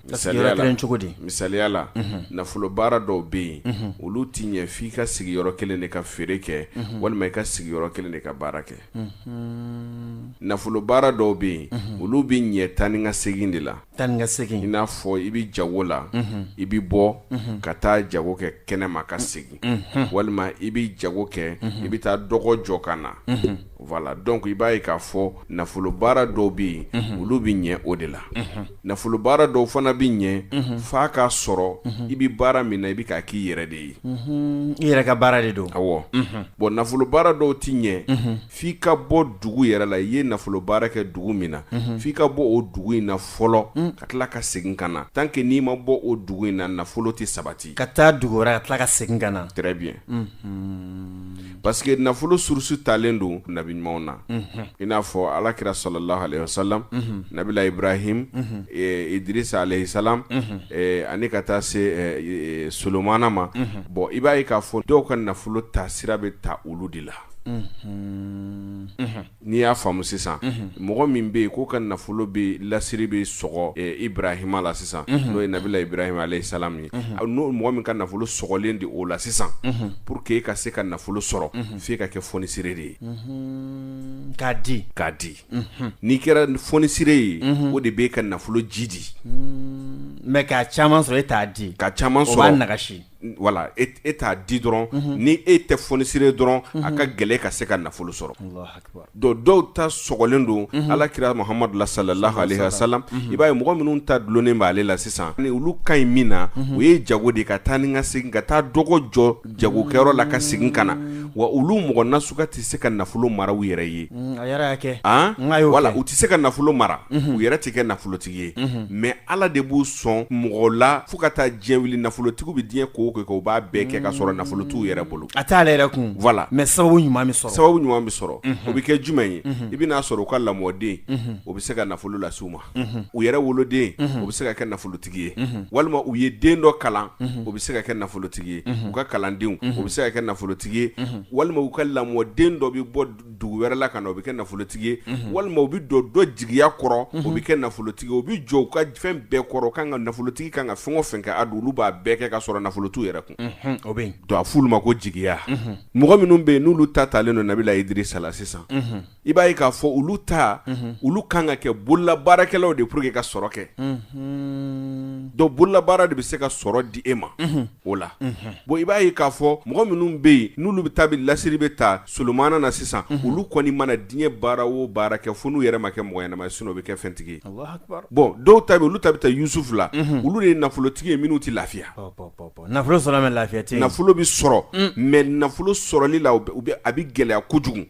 S1: misaliya cogo di misaliya la nafolo baara dɔw bɛ yen olu tɛ ɲɛ f' i ka sigi yɔrɔ kelen de ka feere kɛ walima i ka sigi yɔrɔ kelen de ka baara kɛ nafolo baara dɔw bɛ yen olu bɛ ɲɛ taa ni ka segin de la taa ni ka segin i n'a fɔ i bɛ jago la i bɛ bɔ ka taa jago kɛ kɛnɛ ma ka segin walima i bɛ jago kɛ i bɛ taa dɔgɔ jɔ ka na voilà donc i b'a ye k'a fɔ nafolo baara dɔw bɛ yen olu bɛ ɲɛ o de la nafolo baara dɔw fana bɛ ɲɛ f'a k'a sɔrɔ i bɛ baara min na i bɛ k'a k'i yɛrɛ de ye i yɛrɛ ka baara de don aw bɔn nafolo baara dɔw tɛ ɲɛ f'i ka bɔ dugu yɛrɛ la i ye nafolo baara kɛ dugu min na f'i ka bɔ o dugu in na fɔlɔ ka tila ka segin ka na tant que n'i ma bɔ o dugu in na nafolo tɛ sabati ka taa dugu wɛrɛ ka tila ka segin ka na bi parce que nafolo source talen don nabi ɲumanw na i n'a fɔ ala kira salalahu aleyi wa salam nabilahi ibrahim idirisa aleyi salam ani ka taa se solomana ma bɔn i b'a ye k'a fɔ dɔw ka nafolo ta sira bɛ ta olu de la N'i y'a faamu sisan mɔgɔ min bɛ yen k'o ka nafolo bɛ lasiri bɛ sɔgɔ ibrahima la sisan n'o ye nabilahi ibrahim aleyi salam ye ni mɔgɔ min ka nafolo sɔgɔlen de o la sisan pour que e ka se ka nafolo sɔrɔ f' e ka kɛ fonisire de ye k'a di k'a di n'i kɛra fonisire ye o de bɛ e ka nafolo jiidi mɛ ka ca sɔrɔ e t'a di ka ca sɔrɔ a nasi wala e t'a di dɔrɔn ni e tɛ fonisire dɔrɔn a ka gɛlɛn i ka se ka nafolo sɔrɔ donc dɔw ta sɔgɔlen don ala kira mahamadu la salalahu aleyi wa salam i b'a ye mɔgɔ minnu ta dulonnen b' ale la sisan ni olu ka ɲi min na o ye jago de ka taa ni ka segin ka taa dɔgɔ jɔ jagokɛyɔrɔ la ka segin ka na wa olu mɔgɔ nasuga tɛ se ka nafolo mara u yɛrɛ ye wala u tɛ se ka nafolo mara u yɛrɛ tɛ kɛ nafolo tɛ ye mɛ ala de b'u sɔn mɔgɔ la fo ka taa diɲɛ wuli nafolotigiw bɛ diɲɛ ko kɛ u b'a bɛɛ kɛ ka sɔrɔ nafolo t'u yɛrɛ bolo a t'u yɛrɛ kun mɛ sababu ɲuman sababu ɲuman bɛ sɔrɔ o bɛ kɛ jumɛn ye i bɛn'a sɔrɔ u ka lamɔden o bɛ se ka nafolo lase u ma u yɛrɛ woloden o bɛ se ka kɛ nafolotigi ye walima u ye den dɔ kalan o bɛ se ka kɛ nafolotigi ye u ka kalandenw u bɛ se ka kɛ nafolotigi ye walima u ka lamɔden dɔ bɛ bɔ dugu wɛrɛ la ka na o bɛ kɛ nafolotigi ye walima u bɛ don dɔ jigiya kɔrɔ u bɛ kɛ nafolotigi u bɛ jɔ a ka fɛn bɛɛ kɔrɔ ka kan ka nafolotigi ka kan ka fɛn o fɛn kɛ a don olu b'a bɛɛ kɛ ka sɔrɔ nafolo t'u yɛrɛ kun o bɛ don a fɔ olu ma ko jigiya mɔgɔ minnu bɛ yen n'olu ta taalen don nabila Idirisa la sisan i b'a ye k'a fɔ olu ta olu kan ka kɛ bolola baarakɛlaw de pour que ka sɔrɔ kɛ dɔ bolola baara de bɛ se ka sɔrɔ di e ma o la bon i b'a ye k'a fɔ mɔgɔ minnu bɛ yen n'olu bɛ taa bɛ lasiri bɛ taa Solomana na sisan olu kɔni mana diɲɛ baara o baara kɛ fo n'u yɛrɛ ma kɛ mɔgɔ ɲɛnama ye sinon u bɛ kɛ fɛntigi ye, Alahu akibaru, bon dɔw ta bɛ yen olu ta bɛ taa Yusufu la olu de ye nafolotigi ye minnu tɛ lafiya, pawu pawu pawu pawu, nafolo sɔrɔ mais lafiya tɛ yen, nafolo bɛ sɔrɔ mais nafolo sɔrɔli la u bɛ a bɛ gɛlɛya kojugu,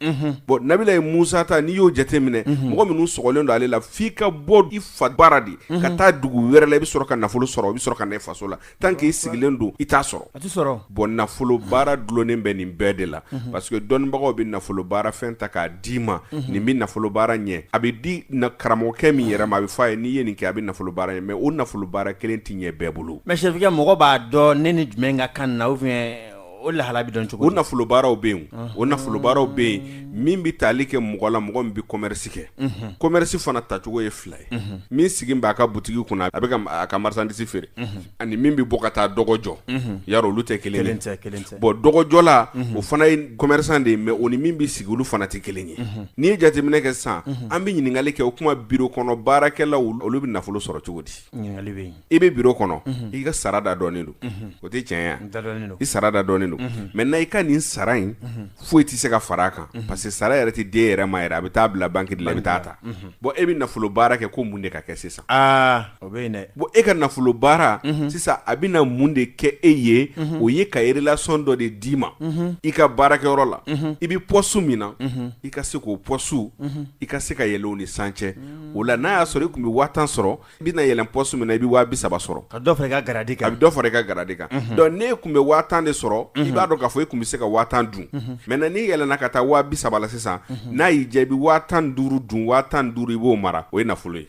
S1: bon nabilayi Musa ta n'i y'o jateminɛ mɔgɔ minnu sɔgɔlen don ale la f'i ka bɔ i fa bara de ka taa dugu wɛrɛ la i bɛ sɔrɔ ka nafolo sɔrɔ i bɛ sɔrɔ ka na i faso la tant qu'i sigilen don i t'a sɔrɔ bɔn nafolo baara dulonnen bɛ nin bɛɛ de la parce que dɔnnibagaw bɛ nafolo baara fɛn ta k'a d'i ma nin bɛ nafolo baara ɲɛ a bɛ di karamɔgɔkɛ min yɛrɛ ma a bɛ fɔ a ye n'i ye nin kɛ a bɛ nafolo baara ɲɛ mɛ o nafolo baara kelen tɛ ɲɛ bɛɛ bolo mɛ est-ce que mɔgɔ b'a dɔn ne ni jumɛn ka kan na o lahala bɛ dɔn cogo o nafolobaaraw bɛ yen o nafolobaaraw bɛ yen min bɛ taali kɛ mɔgɔ la mɔgɔ min bɛ commerce kɛ commerce fana tacogo ye fila ye min sigi bɛ a ka boutique kunna a bɛ a ka marchandise feere ani min bɛ bɔ ka taa dɔgɔ jɔ yɔrɔ olu tɛ kelen ye bon dɔgɔjɔla o fana ye commerçant de ye mais o ni min bɛ sigi olu fana tɛ kelen ye n'i ye jateminɛ kɛ sisan an bɛ ɲininkali kɛ o tuma bureau kɔnɔ baarakɛlaw olu bɛ nafolo sɔrɔ cogo di ɲininkali bɛ yen i bɛ bureau kɔnɔ i ka sara da dɔnnen don o tɛ caya i sara da dɔnnen don maintenant i ka nin sara in foyi tɛ se ka fara a kan parce que sara yɛrɛ tɛ di e yɛrɛ ma yɛrɛ a bɛ taa bila banki de la i bɛ t'a ta bɔn e bɛ nafolo baara kɛ ko mun de ka kɛ sisan bɔn e ka nafolo baara sisan a bɛ na mun de kɛ e ye o ye ka relation dɔ de d'i ma i ka baarakɛyɔrɔ la i bɛ poste min na i ka se k'o poste i ka se ka yɛlɛ o ni san cɛ o la n'a y'a sɔrɔ i tun bɛ waa tan sɔrɔ i bɛna yɛlɛn poste min na i bɛ waa bi saba sɔrɔ ka dɔ fara i ka garadi kan a bɛ dɔ fara i ka garadi kan donc n'e tun bɛ waa tan de sɔrɔ i b'a dɔn k'a fɔ e tun bɛ se ka waa tan dun maintenant n'i yɛlɛnna ka taa waa bi saba la sisan n'a y'i diya i bɛ waa tan ni duuru dun waa tan ni duuru i b'o mara o ye nafolo ye.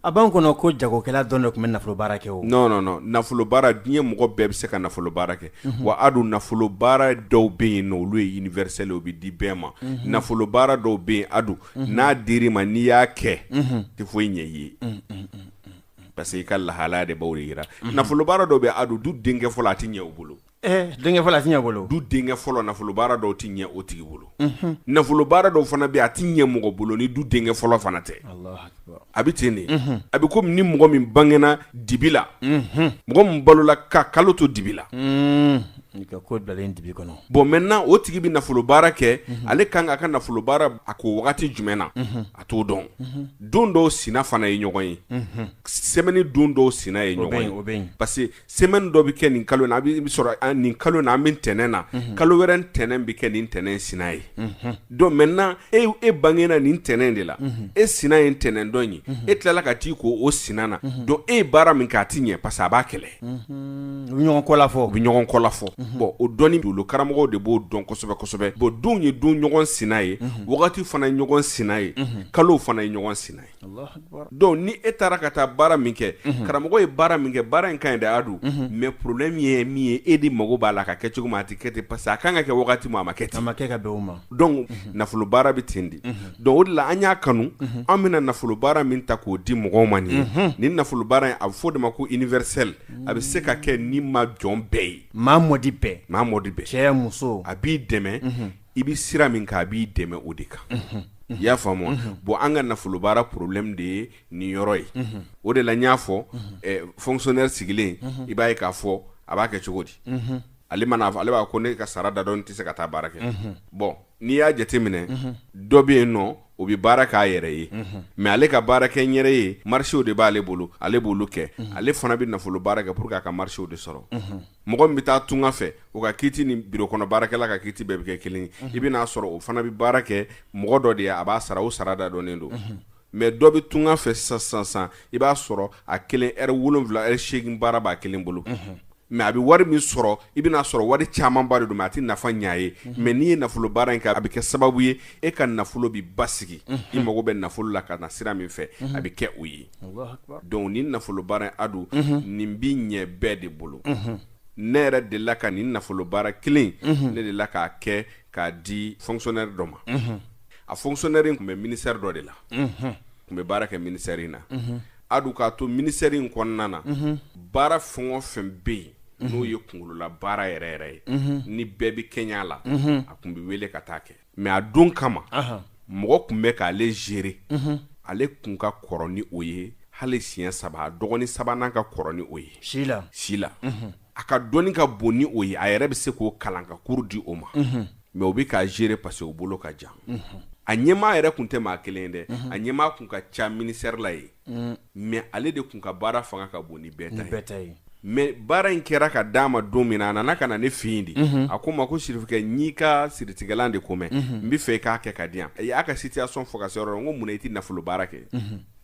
S1: a b'an kɔnɔ ko jagokɛla dɔrɔn de tun bɛ nafolo baara kɛ o. non non non nafolo baara diɲɛ mɔgɔ bɛɛ bɛ se ka nafolo baara kɛ wa a dun nafolo baara dɔw bɛ yen n'olu ye universel ye o bɛ di bɛɛ ma nafolo baara dɔw bɛ yen a dun n'a dira i ma n'i y'a kɛ tɛ foyi ɲɛ i ye parce que i ka lahala de b'a jira nafolo baara dɔ bɛ a don du denkɛ fɔlɔ a tɛ ɲɛ o bolo denkɛ fɔlɔ tɛ bolo du denkɛ fɔlɔ nafolo baara dɔw tɛ ɲɛ o tigi bolo nafolo baara dɔw fana bɛ a tɛ ɲɛ mɔgɔ bolo ni du denkɛ fɔlɔ fana tɛ a bɛ ten de a bɛ kɔmi ni mɔgɔ min bangena dibi la mɔgɔ min balola ka kalo to dibi la ko bilalen dibi kɔnɔ bon mɛ n' o tigi bɛ nafolo baara kɛ ale kan k'a ka nafolo baara kɛ wagati jumɛn na a t'o dɔn don dɔw sina fana ye ɲɔgɔn ye semaine don dɔw sina ye ɲɔgɔn ye o bɛ parce semaine dɔ bɛ kɛ nin kalo in na a bɛ sɔrɔ an nin kalo in na an bɛ ntɛnɛn na kalo wɛrɛ ntɛnɛn bɛ kɛ nin ntɛnɛn sina ye donc maintenant e e bangena nin ntɛnɛn de la e sina ye ntɛnɛn dɔ in ye e tilala ka t'i ko o sina na donc e ye baara min kɛ a ti ɲɛ parce que a b'a kɛlɛ u bɛ ɲɔgɔn kɔla fɔ u bɛ ɲɔgɔn kɔla fɔ bon o dɔnni dolo karamɔgɔw de b'o dɔn kosɛbɛ kosɛbɛ bon don ye don ɲɔgɔn sina ye wagati fana ye ɲɔgɔn sina ye kalow fana ye ɲɔgɔn sina ye Donc ni e taara ka taa baara min kɛ karamɔgɔ ye baara min kɛ baara in ka ɲi de a don mɛ problème ye min ye e de mago b'a la ka kɛ cogo min a tɛ kɛ ten parce a ka kan ka kɛ waati min a ma kɛ ten ma kɛ ka ma donc nafolo baara bɛ ten de donc o de la an y'a kanu an bɛna nafolo baara min ta k'o di mɔgɔw ma nin ye nin nafolo baara in a bɛ fɔ o de ma ko universel a bɛ se ka kɛ ni ma jɔn bɛɛ ye maa mɔdi bɛɛ maa mɔdi bɛɛ cɛ muso a b'i dɛmɛ i bɛ sira min kan a b'i dɛmɛ o de kan i y'a faamu bon an ka nafolo baara problème de ye nin yɔrɔ ye o de la n y'a fɔ fonctionnaire sigilen i b'a ye k'a fɔ a b'a kɛ cogo di ale man'a fɔ ale b'a ko ne ka sara da dɔn tɛ se ka taa baara kɛ bon n'i y'a jateminɛ dɔ bɛ yen n'o bɛ baara kɛ a yɛrɛ ye mɛ ale ka baara kɛ n yɛrɛ ye marisew de b'ale bolo ale b'olu kɛ ale fana bɛ nafolo baara kɛ pour que a ka marisew de sɔrɔ mɔgɔ min bɛ taa tunga fɛ o ka kiiti ni biro kɔnɔ baarakɛla ka kiiti bɛɛ bɛ kɛ kelen i bɛn'a sɔrɔ o fana bɛ baara kɛ mɔgɔ dɔ de ye a b'a sara o sara da dɔnnen don mɛ dɔ bɛ tunga fɛ sisan sisan i b'a sɔrɔ a kelen heure wolonwula heure segin baara b'a kelen bolo mɛ a bɛ wari min sɔrɔ i bɛn'a sɔrɔ wari camanba de don mɛ a tɛ nafa ɲɛ a ye mɛ n'i ye nafolo baara in kɛ a bɛ kɛ sababu ye e ka nafolo bɛ basigi i mago bɛ nafolo la ka na sira min fɛ a bɛ kɛ o ye donc nin nafolo baara a don nin bɛ ɲɛ bɛɛ de bolo ne yɛrɛ dela ka nin nafolo baara kelen ne dela k'a kɛ k'a di fonctionnaire dɔ ma a fonctionnaire in tun bɛ minisɛri dɔ de la tun bɛ baara kɛ minisɛri in na a don k'a to minisɛri in kɔnɔna na baara fɛn o fɛn bɛ yen n'o ye kungolola baara yɛrɛ yɛrɛ ye ni bɛɛ bɛ kɛ a la a tun bɛ wele ka taa kɛ mɛ a don kama mɔgɔ tun bɛ k'ale zere ale tun ka kɔrɔ ni o ye hali siɲɛ saba a dɔgɔnin sabanan ka kɔrɔ ni o ye si si la a ka dɔnni ka bon ni o ye a yɛrɛ bɛ se k'o kalan ka kuru di o ma mɛ o bɛ k'a zere parce que o bolo ka jan a ɲɛmaa yɛrɛ tun tɛ maa kelen dɛ a ɲɛmaa tun ka ca minisitɛri la yen mɛ ale de tun ka baara fanga ka bon ni bɛɛ ta ye mɛ baara in kɛra ka d'a ma don min a nana ka na ne fini de a ko n ma ko sirikɛ n'i ka siritigilan de ko mɛn n b'a fɛ i k'a kɛ ka di yan a y'a ka situation fɔ ka se yɔrɔ n ko mun i tɛ nafolo baara kɛ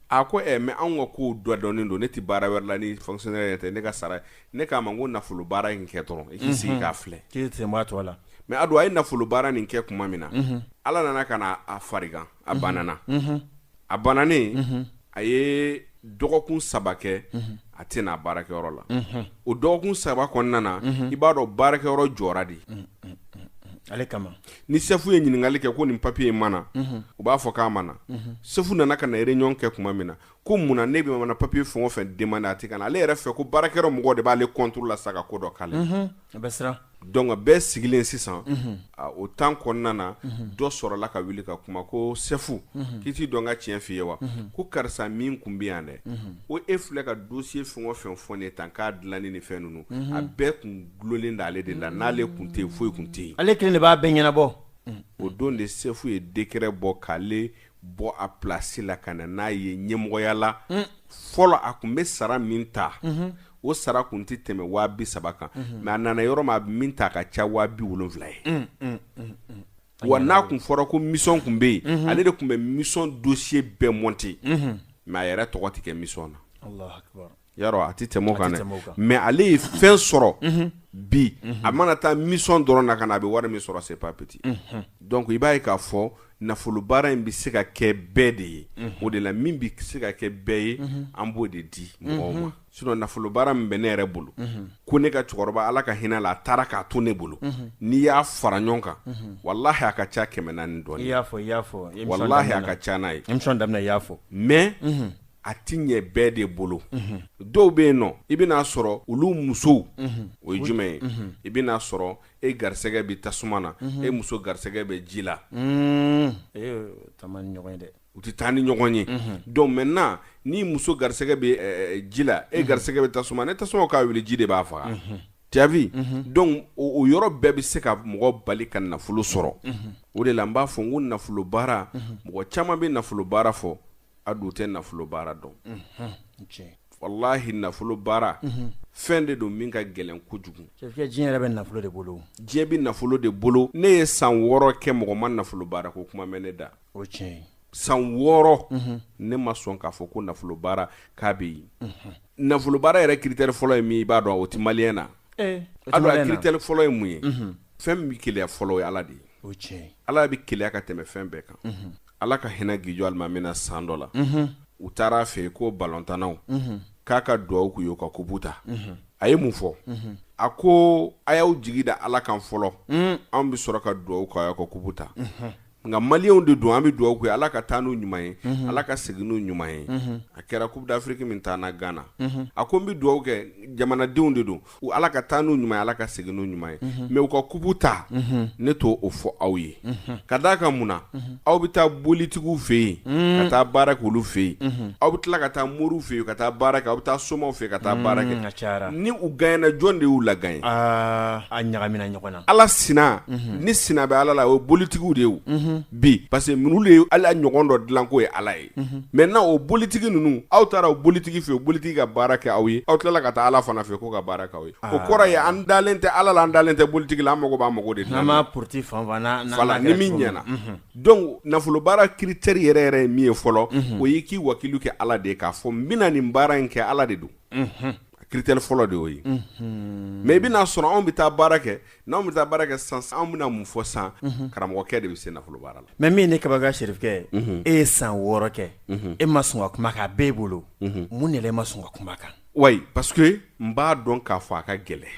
S1: a ko ɛ mɛ anw ka ko dɔ dɔnnen don ne tɛ baara wɛrɛ la ni fanga yɛrɛ tɛ ne ka sara ne k'a ma ko nafolo baara in kɛ dɔrɔn i k'i sigi k'a filɛ k'i sen to a la mɛ a don a ye nafolo baara nin kɛ tuma min na ala nana ka a fari a banana a bananen a ye dɔgɔkun saba kɛ a tɛ n'a baarakɛyɔrɔ la o dɔgɔkun saba kɔnɔna na i b'a dɔn baarakɛyɔrɔ jɔra de ale kama ni sɛfu ye ɲininkakali kɛ ko ni papiye in ma na u b'a fɔ k'a ma na sɛfu nana ka na réunion kɛ tuma min na ko mun na ne bɛ papiye fɛn o fɛn demande a tɛ ka na ale yɛrɛ fɛ ko baarakɛyɔrɔ mɔgɔw de b'ale contre la sa ka ko dɔ k'ale A bɛ siran donc bɛɛ sigilen sisan a o temps kɔnɔna na dɔ sɔrɔla ka wuli ka kuma ko Sɛfu k'i t'i dɔ n ka tiɲɛ f'i ye wa ko karisa min tun bɛ yan dɛ ko e filɛ ka dossier fɛn o fɛn fɔ ne ye tan k'a dilanni ni fɛn ninnu a bɛɛ tun dulonlen don ale de la n'ale tun tɛ yen foyi tun tɛ yen ale kelen de b'a bɛɛ ɲɛnabɔ o don de Sɛfu ye décret bɔ k'ale bɔ a place la ka na n'a ye ɲɛmɔgɔya la fɔlɔ a tun bɛ sara min ta o sara kun tɛ tɛmɛ waa bi saba kan mɛ a nana yɔrɔ ma a bɛ min ta ka ca waa bi wolonwula ye mm, mm, mm, wa n'a tun fɔra ko misɔn tun bɛ yen mm-hmm. ale de tun bɛ misɔn dosiye bɛɛ mɔnte mm-hmm. mɛ a yɛrɛ tɔgɔ tɛ kɛ misɔn na yarɔ a tɛ tɛmɛ kan dɛ mɛ ale ye fɛn sɔrɔ mm-hmm. bi a mana taa misɔn dɔrɔn na ka na a bɛ wari min sɔrɔ c'est pas petit dɔnku i b'a ye k'a fɔ nafolo baara in bɛ se ka kɛ bɛɛ de ye o de la min bɛ se ka kɛ bɛɛ ye an b'o de di mɔgɔw ma sinɔn nafolo baara min bɛ ne yɛrɛ bolo ko ne ka cɛkɔrɔba ala ka hin'a la a taara k'a to ne bolo n'i y'a fara ɲɔgɔn kan walayi a ka ca kɛmɛ naani dɔn y'a fɔ y'a fɔ walayi a ka ca n'a ye daminɛ y'a fɔ mɛ a tɛ ɲɛ bɛɛ de bolo dɔw bɛ yen nɔ i bɛn'a sɔrɔ olu musow o ye jumɛn ye i bɛn'a sɔrɔ e garisɛgɛ bɛ tasuma na e muso garisɛgɛ bɛ ji la u tɛ taa ni ɲɔgɔn ye donc maintenant ni muso garisɛgɛ bɛ ji la e garisɛgɛ bɛ tasuma na tasuma ka wuli ji de b'a faga t'as vu donc o yɔrɔ bɛɛ bɛ se ka mɔgɔ bali ka nafolo sɔrɔ o de la n b'a fɔ n ko nafolo baara mɔgɔ caman bɛ nafolo baara fɔ a dun tɛ nafolo baara dɔn walahi nafolo baara fɛn de don min ka gɛlɛn kojugu bɛ nafolo de bolo diɲɛ bɛ nafolo de bolo ne ye san wɔɔrɔ kɛ mɔgɔ ma nafolo baara ko kuma mɛn ne da o tiɲɛ san wɔɔrɔ ne ma sɔn k'a fɔ ko nafolo baara k'a bɛ yen nafolo baara yɛrɛ kiriteri fɔlɔ ye min ye i b'a dɔn o te maliya na ki fɔlɔ ye mun ye fɛn bɛɛ ke fɔlɔ ye ala de ye ala bɛ keya ka tɛmɛ fɛn bɛɛ kan ala ka hinɛ gijɔ alimami na san dɔ la u taara a fɛ yen ko balɔntannaw k'a ka dugawu k'u ye u ka kupu ta a ye mun fɔ a ko a y'aw jigi da ala kan fɔlɔ anw bɛ sɔrɔ ka dugawu kɛ aw ka kupu ta nka maliyɛnw de don an bɛ dugawu k'u ye ala ka taa n'u ɲuman ye ala ka segin n'u ɲuman ye a kɛra coupe d'afrique min tanna gana a ko n bɛ dugawu kɛ jamanadenw de don u ala ka taa n'u ɲuman ye ala ka segin n'u ɲuman ye mɛ u ka kupu ta ne t'o fɔ aw ye ka d'a kan mun na aw bɛ taa bolitigiw fɛ yen ka taa baara k'olu fɛ yen aw bɛ tila ka taa moriw fɛ yen ka taa baara kɛ aw bɛ taa somaw fɛ ka taa baara kɛ ca ni u gaɲena jɔn de y'u la ye a ɲagamina ɲɔgɔn na ala sina ni sina bɛ ala la o ye bolitigiw de ye bi parce que minnu de ye ala ɲɔgɔn dɔ dilan k'o ye ala ye maintenant o bolitigi ninnu aw taara o bolitigi fɛ o bolitigi ka baara kɛ aw ye aw tilala ka taa ala fana fɛ k'o ka baara kɛ aw ye o kɔrɔ ye an dalen tɛ ala la an dalen tɛ bolitigi la an mako b'an mako de porote ni min ɲɛna donc nafolo baara kiriteri yɛrɛ yɛrɛ ye min ye fɔlɔ o y'i k'i wakilu kɛ ala de ye k'a fɔ n bɛna nin baara in kɛ ala de don kiriteri fɔlɔ de y'o ye mɛ i bɛn'a sɔrɔ anw bɛ taa baara kɛ n' anw bɛ taa baara kɛ san anw bɛna mun fɔ san karamɔgɔkɛ de bɛ se nafolo baara la mɛ min ye ne kabakoya sirifekɛ e ye san wɔɔrɔ kɛ e ma sɔn ka kuma k'a bɛ e bolo mun de la e ma sɔn ka kuma kan a parce que n b'a dɔn k'a fɔ a ka gɛlɛn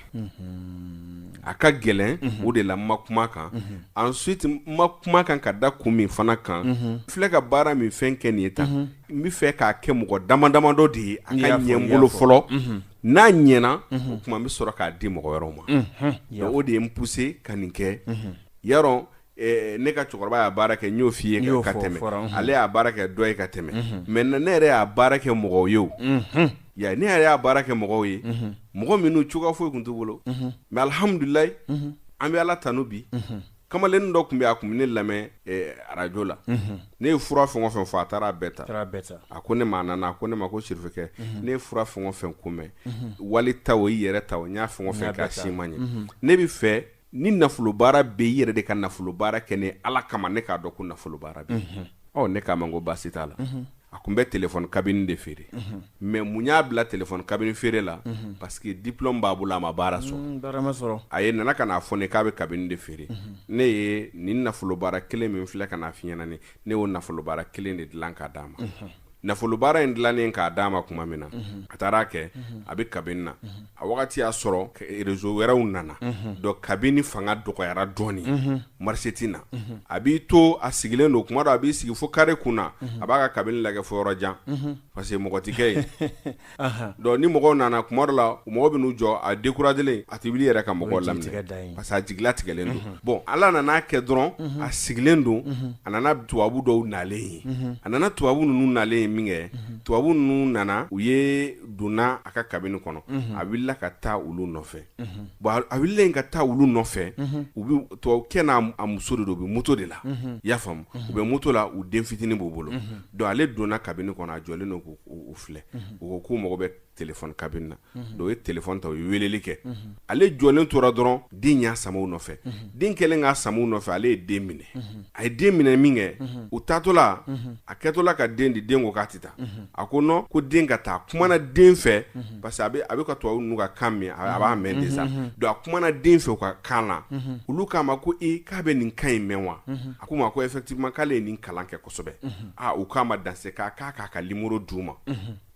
S1: a ka gɛlɛn o de la n ma kuma kan ensuite n ma kuma kan ka da kun min fana kan filɛ ka baara min fɛn kɛ nin ye ta N bɛ fɛ k'a kɛ mɔgɔ dama damadɔ de ye a ka ɲɛ n bolo fɔlɔ, unhun, n'a ɲɛna, unhun, o tuma n bɛ sɔrɔ k'a di mɔgɔ wɛrɛw ma, unhun, donc o de ye n pousser ka nin kɛ, unhun, yarɔ ɛɛ ne ka cɛkɔrɔba y'a baara kɛ n y'o f'i ye ka tɛmɛ, o fɔra, unhun, ale y'a baara kɛ dɔ ye ka tɛmɛ, unhun, maintenant ne yɛrɛ y'a baara kɛ mɔgɔw ye o, unhun, i y'a ye, ne yɛrɛ y'a baara kɛ mɔgɔw ye, unhun, mɔgɔ minnu cogoya foyi tun t'u bolo, unhun, mais alihamudulila, unhun, an bɛ Ala tanu bi, unhun. kamalen dɔ tun bɛ a tun bɛ ne lamɛn eh, arajo la mhm. ne ye fura fɛn o fɛn fɔ a taara a bɛɛ ta a ko ne ma a nana a ko ne ma ko sirifekɛ mhm. ne ye fura fɛn o fɛn ko mɛn mhm. wali ta o i yɛrɛ ta o n y'a fɛn o fɛn k'a si ma ɲɛ ne bɛ fɛ ni nafolobaara bɛ i yɛrɛ de ka nafolobaara kɛ ne ala kama ne k'a dɔn ko nafolobaara bɛ ɔ ne k'a ma ko baasi t'a la a tun bɛ telefɔni kabini de feere mɛ mun y'a bila telefɔni kabini feere la parce que diplôme b'a bolo a ma baara sɔrɔ mm, sɔrɔ a ye nana ka n'a fɔ ne k'a bɛ kabini de feere ne ye nin nafolobaara kelen min filɛ ka n'a f'i ɲɛna ne y'o nafolobaara kelen de dilan k'a d'a ma nafolobaara in dilanen k'a d'a ma tuma min na a taara a kɛ a bɛ kabini na a wagati y'a sɔrɔ rezo wɛrɛw nana dɔn kabini fanga dɔgɔyara dɔɔnin marise tɛ na a b'i to a sigilen don o kuma dɔ a b'i sigi fo kare kun na a b'a ka kabini lajɛ fo yɔrɔ jan parce que mɔgɔ tɛ kɛ yen ni mɔgɔ nana kuma dɔ la mɔgɔw bɛ n'u jɔ a dekurajelen a tɛ wuli yɛrɛ ka mɔgɔ lajɛ parce a jigi latigɛlen don bɔn ala nana a kɛ dɔrɔn a sigilen don a nana tubabubu dɔw nalen ye a nana tubabubu ninnu nalen ye min kɛ tubabubu ninnu nana u ye donna a ka kabini kɔnɔ a wulila ka taa olu nɔfɛ bon a wulila ka taa olu nɔfɛ u bɛ kɛ n'a muso de don u bɛ muso de la i y'a faamu u bɛ muso la u den fitinin b'u bolo don ale donna kabini kɔnɔ a jɔlen don u filɛ u ko k'u mago bɛ telefɔni kabini na dɔn u ye telefɔni ta u ye weleli kɛ ale jɔlen tora dɔrɔn den y'a sama a nɔfɛ den kɛlen k'a sama a nɔfɛ ale ye den minɛ a ye den minɛ min kɛ u taatɔla a kɛtɔla ka den di den ko k'a tɛ taa a ko n ko den ka taa a kumana den fɛ parce que a bɛ ka to n'u ka kan mɛn a b'a mɛn de sa don a kumana den fɛ u ka kan na olu k'a ma ko e k'a bɛ nin kan in mɛn wa a k'u ma ko effectivement k'ale ye nin kalan kɛ kosɛbɛ aa u k'a ma dans ce cas k'a k'a ka nimɔrɔ d'u ma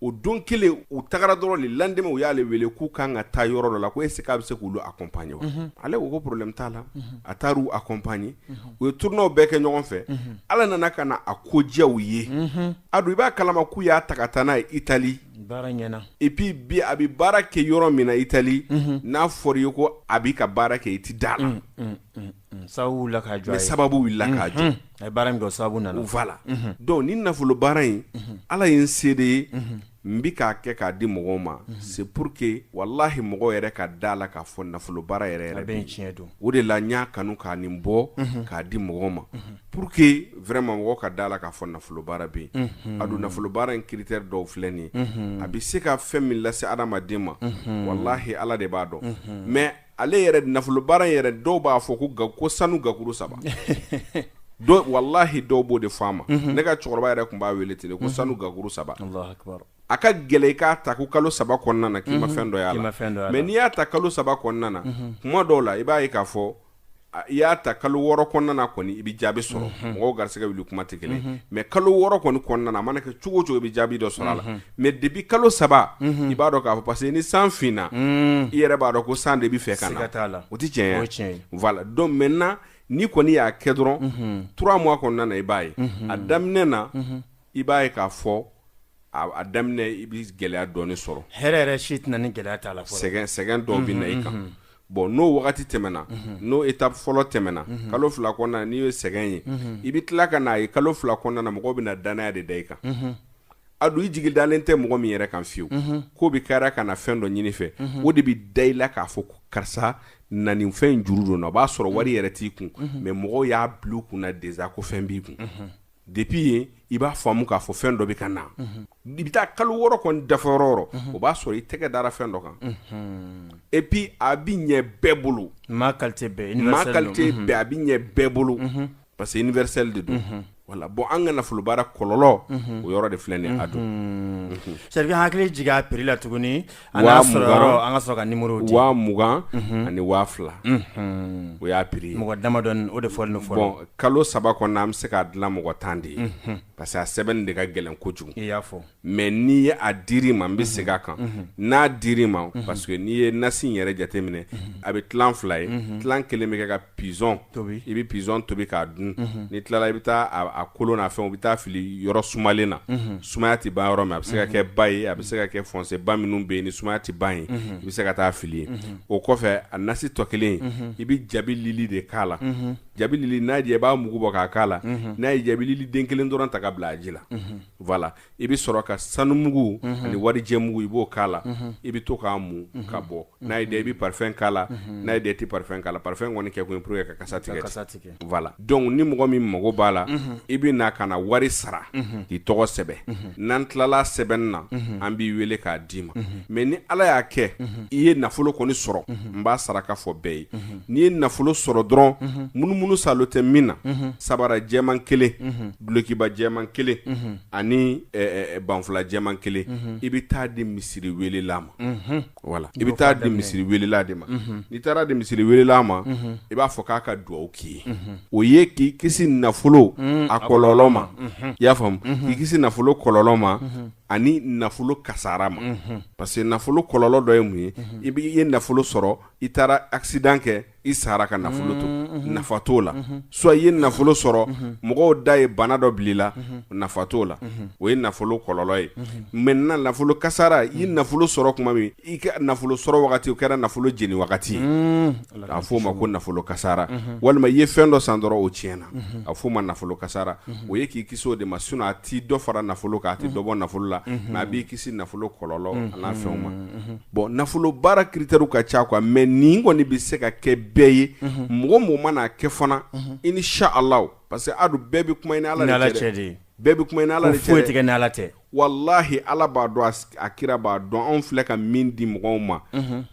S1: o don kelen u tagara dɔrɔn le lendemain u y'ale wele k'u ka kan ka taa yɔrɔ dɔ la ko est-ce qu'a bɛ se k'u accompagner ale ko ko problème t'a la a taara u accompagner u ye turnaw bɛɛ kɛ ɲɔgɔn fɛ ala nana ka na a ko diya u ye a don i b'a kalama k'u y'a ta ka taa n'a ye itali et puis bi a bɛ baara kɛ yɔrɔ min na itali n'a fɔra i ye ko a bɛ ka baara kɛ i tɛ da la Sabu sababu baara sababu nana ufa la dɔnku nin nafolo baara in ala ye n seere ye n bɛ k'a kɛ k'a di mɔgɔw ma c'est pour que walahi mɔgɔw yɛrɛ ka da la k'a fɔ nafolo baara yɛrɛ bɛ tiɲɛ don o de la n y'a kanu ka nin bɔ k'a di mɔgɔw ma pour que vraiment mɔgɔw ka da la k'a fɔ nafolo baara bɛ yen a don nafolo baara in critère dɔw filɛ nin a bɛ se ka fɛn min lase adamaden ma walahi ala de b'a dɔn mɛ ale yɛrɛ nafolobaara in yɛrɛ dɔw b'a fɔ ko ga ko sanu gakuru saba don walahi dɔw b'o de fɔ a ma ne ka cɛkɔrɔba yɛrɛ tun b'a wele ten ko sanu gakuru saba Alahu akibaru. a ka gɛlɛn i k'a ta ko kalo saba kɔnɔna na k'i ma fɛn dɔ y'a la. mɛ n'i y'a ta kalo saba kɔnɔna na kuma dɔw la i b'a ye k'a fɔ i y'a ta kalo wɔɔrɔ kɔnɔna kɔni i bɛ jaabi sɔrɔ mɔgɔw garisigɛ wuli kuma tɛ kelen mais kalo wɔɔrɔ kɔni kɔnɔna a mana kɛ cogo cogo i bɛ jaabi dɔ sɔrɔ a la mais depuis kalo saba i b'a dɔn k'a fɔ parce que ni san finna i yɛrɛ b'a dɔn ko san de bɛ fɛ ka na o tɛ voilà donc maintenant n'i kɔni y'a kɛ dɔrɔn trois mois kɔnɔna i b'a ye a daminɛ na i b'a ye k'a fɔ a daminɛ i bɛ gɛlɛya dɔɔnin sɔrɔ hɛrɛ yɛrɛ si tɛ na ni gɛlɛya t'a la sɛgɛn sɛgɛn dɔɔnin bɛ na i kan bon n'o wagati tɛmɛna n'o étape fɔlɔ tɛmɛna kalo fila kɔnɔna n'i ye sɛgɛn ye i bɛ tila ka n'a ye kalo fila kɔnɔna mɔgɔ bɛ na dannaya de da i kan a don i jigi dalen tɛ mɔgɔ min yɛrɛ kan fiyewu k'o bɛ kɛra ka na fɛn dɔ ɲini i fɛ o de bɛ da i la k'a fɔ karisa na fɛn in juru don o b'a sɔrɔ wari yɛrɛ t'i kun mais mɔgɔ y'a bila a kun na déjà ko fɛn b'i kun Depuis yen i b'a faamu k'a fɔ fɛn dɔ bɛ ka na i bɛ taa kalo wɔɔrɔ dafa o b'a sɔrɔ i tɛgɛ dara fɛn dɔ kan et puis a bɛ ɲɛ bɛɛ bolo a bɛ ɲɛ bɛɛ bolo parce que universel de don voilà bon an ka nafolo baara kɔlɔlɔ o yɔrɔ de filɛ a don seri hakili jigin a prix la tuguni an Waa ka sɔrɔ yɔrɔ, mugan. an ka sɔrɔ ka numéro di. Waa mugan ani waa fila. Unhun. O y'a prix ye. Mɔgɔ damadɔni, o de fɔlen don fɔlɔ. Bon kalo saba kɔnɔna an bɛ se k'a dilan mɔgɔ tan de ye. Unhun. Parce que a sɛbɛnni de ka gɛlɛn kojugu. I y'a fɔ. Mais n'i ye a dir'i ma, n bɛ segin a kan. Unhun. N'a dir'i ma, parce que n'i ye nasi in yɛrɛ jateminɛ, a bɛ tilan fila ye. Unhun. Tilan kelen bɛ kɛ ka pigeon tobi i bɛ pigeon tobi k'a dun n'i tilala i bɛ taa kolo n'a fɛnw bɛɛ taa fili yɔrɔ sumalen na sumaya tɛ ban yɔrɔ min a bɛ se ka kɛ ba ye a bɛ se ka kɛ fossé ba minnu bɛ yen ni sumaya tɛ ban yen i bɛ se ka taa fili yen o kɔfɛ a nasi tɔ kelen i bɛ jabilili de k'a la jabilili in i b'a mugu bɔ k'a k'a la n'a ye jabilili den kelen dɔrɔn ta ka bila a ji la voilà i bɛ sɔrɔ ka sanumugu ani warijɛmugu i b'o k'a la i bɛ to k'a mu ka bɔ n'a y'i diya i bɛ parfum k'a la n'a y'i diya i tɛ parfum k'a la parfum kɔni kɛkun pur ye ka kasa tigɛ kasa tigɛ voilà donc ni mɔgɔ min mago b'a la i bɛ na ka na wari sara k'i tɔgɔ sɛbɛn n'an tilala sɛbɛnni na an b'i wele k'a d'i ma mais ni ala y'a kɛ i ye nafolo kɔni sɔrɔ n b'a saraka fɔ bɛɛ ye n'i ye nafolo sɔrɔ dɔrɔn munumunu saalo tɛ min na sabara jɛman kelen dulokiba jɛman kelen mhm. ani eh, eh, eh, banfula jɛman kelen mhm. i bɛ taa di misiri welela ma mhm. voilà i bɛ taa di misiri welela de ma n'i taara di misiri welela ma i b'a fɔ k'a ka dugawu k'i ye o ye k'i kisi nafolo mm, a kɔlɔlɔ ma i y'a faamu k'i kisi nafolo kɔlɔlɔ ma ani nafolo kasara ma parce que nafolo kɔlɔlɔ dɔ ye mun ye i bɛ i ye nafolo sɔrɔ i taara accident kɛ i sara ka nafolo to nafa t'o la so i ye nafolo sɔrɔ mɔgɔw da ye bana dɔ bila i la nafa t'o la o ye nafolo kɔlɔlɔ ye maintenant nafolo kasara i ye nafolo sɔrɔ tuma min i ka nafolo sɔrɔ wagati o kɛra nafolo jeni wagati ye k'a f'o ma ko nafolo kasara walima i ye fɛn dɔ san dɔrɔn o tiɲɛna na a f'o ma nafolo kasara o ye k'i kisi o de ma sinon a tɛ dɔ fara nafolo kan a tɛ dɔ bɔ nafolo la mais a b'i kisi nafolo kɔlɔlɔ n'a fɛnw ma bon nafolo baara critères ka ca quoi mais nin kɔni bɛ se ka kɛ bɛɛ ye mɔgɔ o mɔgɔ mana a kɛ fana inshallah parce que an dun bɛɛ bɛ kuma ala ala bɛɛ bɛ kuma ala foyi tɛ kɛ ni ala tɛ walahi ala b'a dɔn a kira b'a dɔn anw filɛ ka min di mɔgɔw ma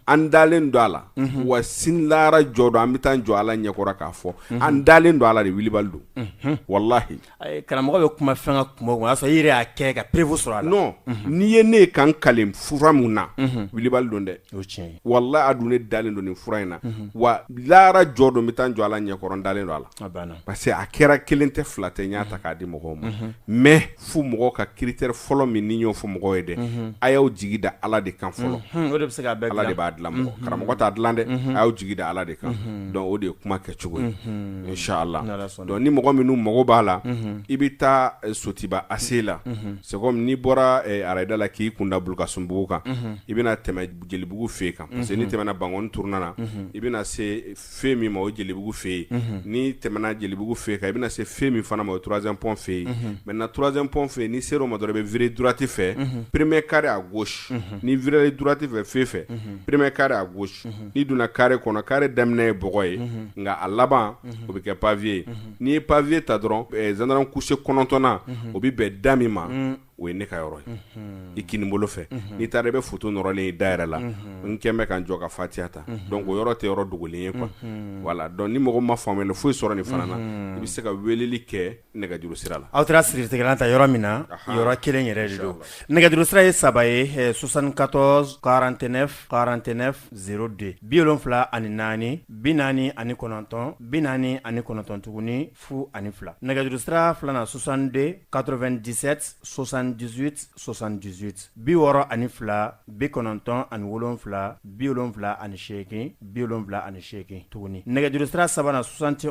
S1: an dalen don a la wa sini lahara jɔ don an bɛ taa jɔ ala ɲɛkɔrɔ k'a fɔ an dalen don a la de wulibali don walahi Karamɔgɔ bɛ kuma fɛn kan kuma o y'a sɔrɔ yɛrɛ y'a kɛ ka pereko sɔrɔ a nɔ n'i ye ne ye ka n kali fura min na wulibali don dɛ o tiɲɛ walahi a dun ne dalen don nin fura in na wa lahara jɔ don bɛ taa n jɔ ala ɲɛkɔrɔ n dalen don a la banna parce que a kɛra kelen tɛ fila tɛ n y'a ta k'a di mɔgɔw ma mais fo mɔgɔ ka critère fɔlɔ min n y'o fɔ mɔgɔw ye dɛ a y'aw jigi da ala de kan fɔlɔ o de bɛ se ko bɛɛ ala de b'a dilan karamɔgɔ t'a dilan dɛ a y'aw jigi da ala de kan donc o de ye kuma kɛ cogo ye si la Dɔn ni mɔgɔ minnu mago b'a la i bɛ taa sotiba ase la sɛ n'i bɔra arada la k'i kun da ka sunbugu kan i bɛna tɛmɛ jelibugu fɛ yen kan parce que ni tɛmɛna bank t na i bɛna se fɛn min ma o jelibugu fɛ yen ni tɛmɛna jelibugu fɛ yen kan i bɛna se fɛn min fana ma o turazɛɔn fɛ yen mɛ na turazɛɔn fɛ yen ni se o ma dɔrɔn i bɛ vtti fɛ peremɛ kari a gosi ni vri duti fɛ fɛn fɛ peremɛ kari a gosi n'i donna carré kɔnɔ carré daminɛ ye bɔgɔ ye nka a laban o bɛ kɛ pavé ye n'i ye pavé ta dɔrɔn gendarme couché kɔnɔntɔnnan o bɛ bɛn da min ma o ye ne ka yɔrɔ ye i kinin bolo fɛ n'i taara i bɛ foto nɔrɔlen ye da yɛrɛ la n kɛlen bɛ ka n jɔ ka fatiya ta donc o yɔrɔ tɛ yɔrɔ dogolen ye quoi voilà donc ni mɔgɔ ma faamuya foyi sɔrɔ nin fana na i bɛ se ka weleli kɛ nɛgɛjuru sira la aw taara siritigɛla ta yɔrɔ min na yɔrɔ kelen yɛrɛ de don nɛgɛjuru sira ye saba ye soixante-quatorze quarante-neuf quarante-neuf zéro deux bi wolonwula ani naani bi naani ani kɔnɔntɔn bi naani ani kɔnɔntɔn tuguni fu ani fila nɛgɛjuru sira filanan soixante-deux quatre-vingt-dix-sept soixante-dix-huit soixante-dix-huit bi wɔɔrɔ ani fila bi kɔnɔntɔn ani wolonwula bi wolonwula ani seegin bi wolonwula ani seegin tuguni nɛgɛjuru sira sabanan soixante tɛ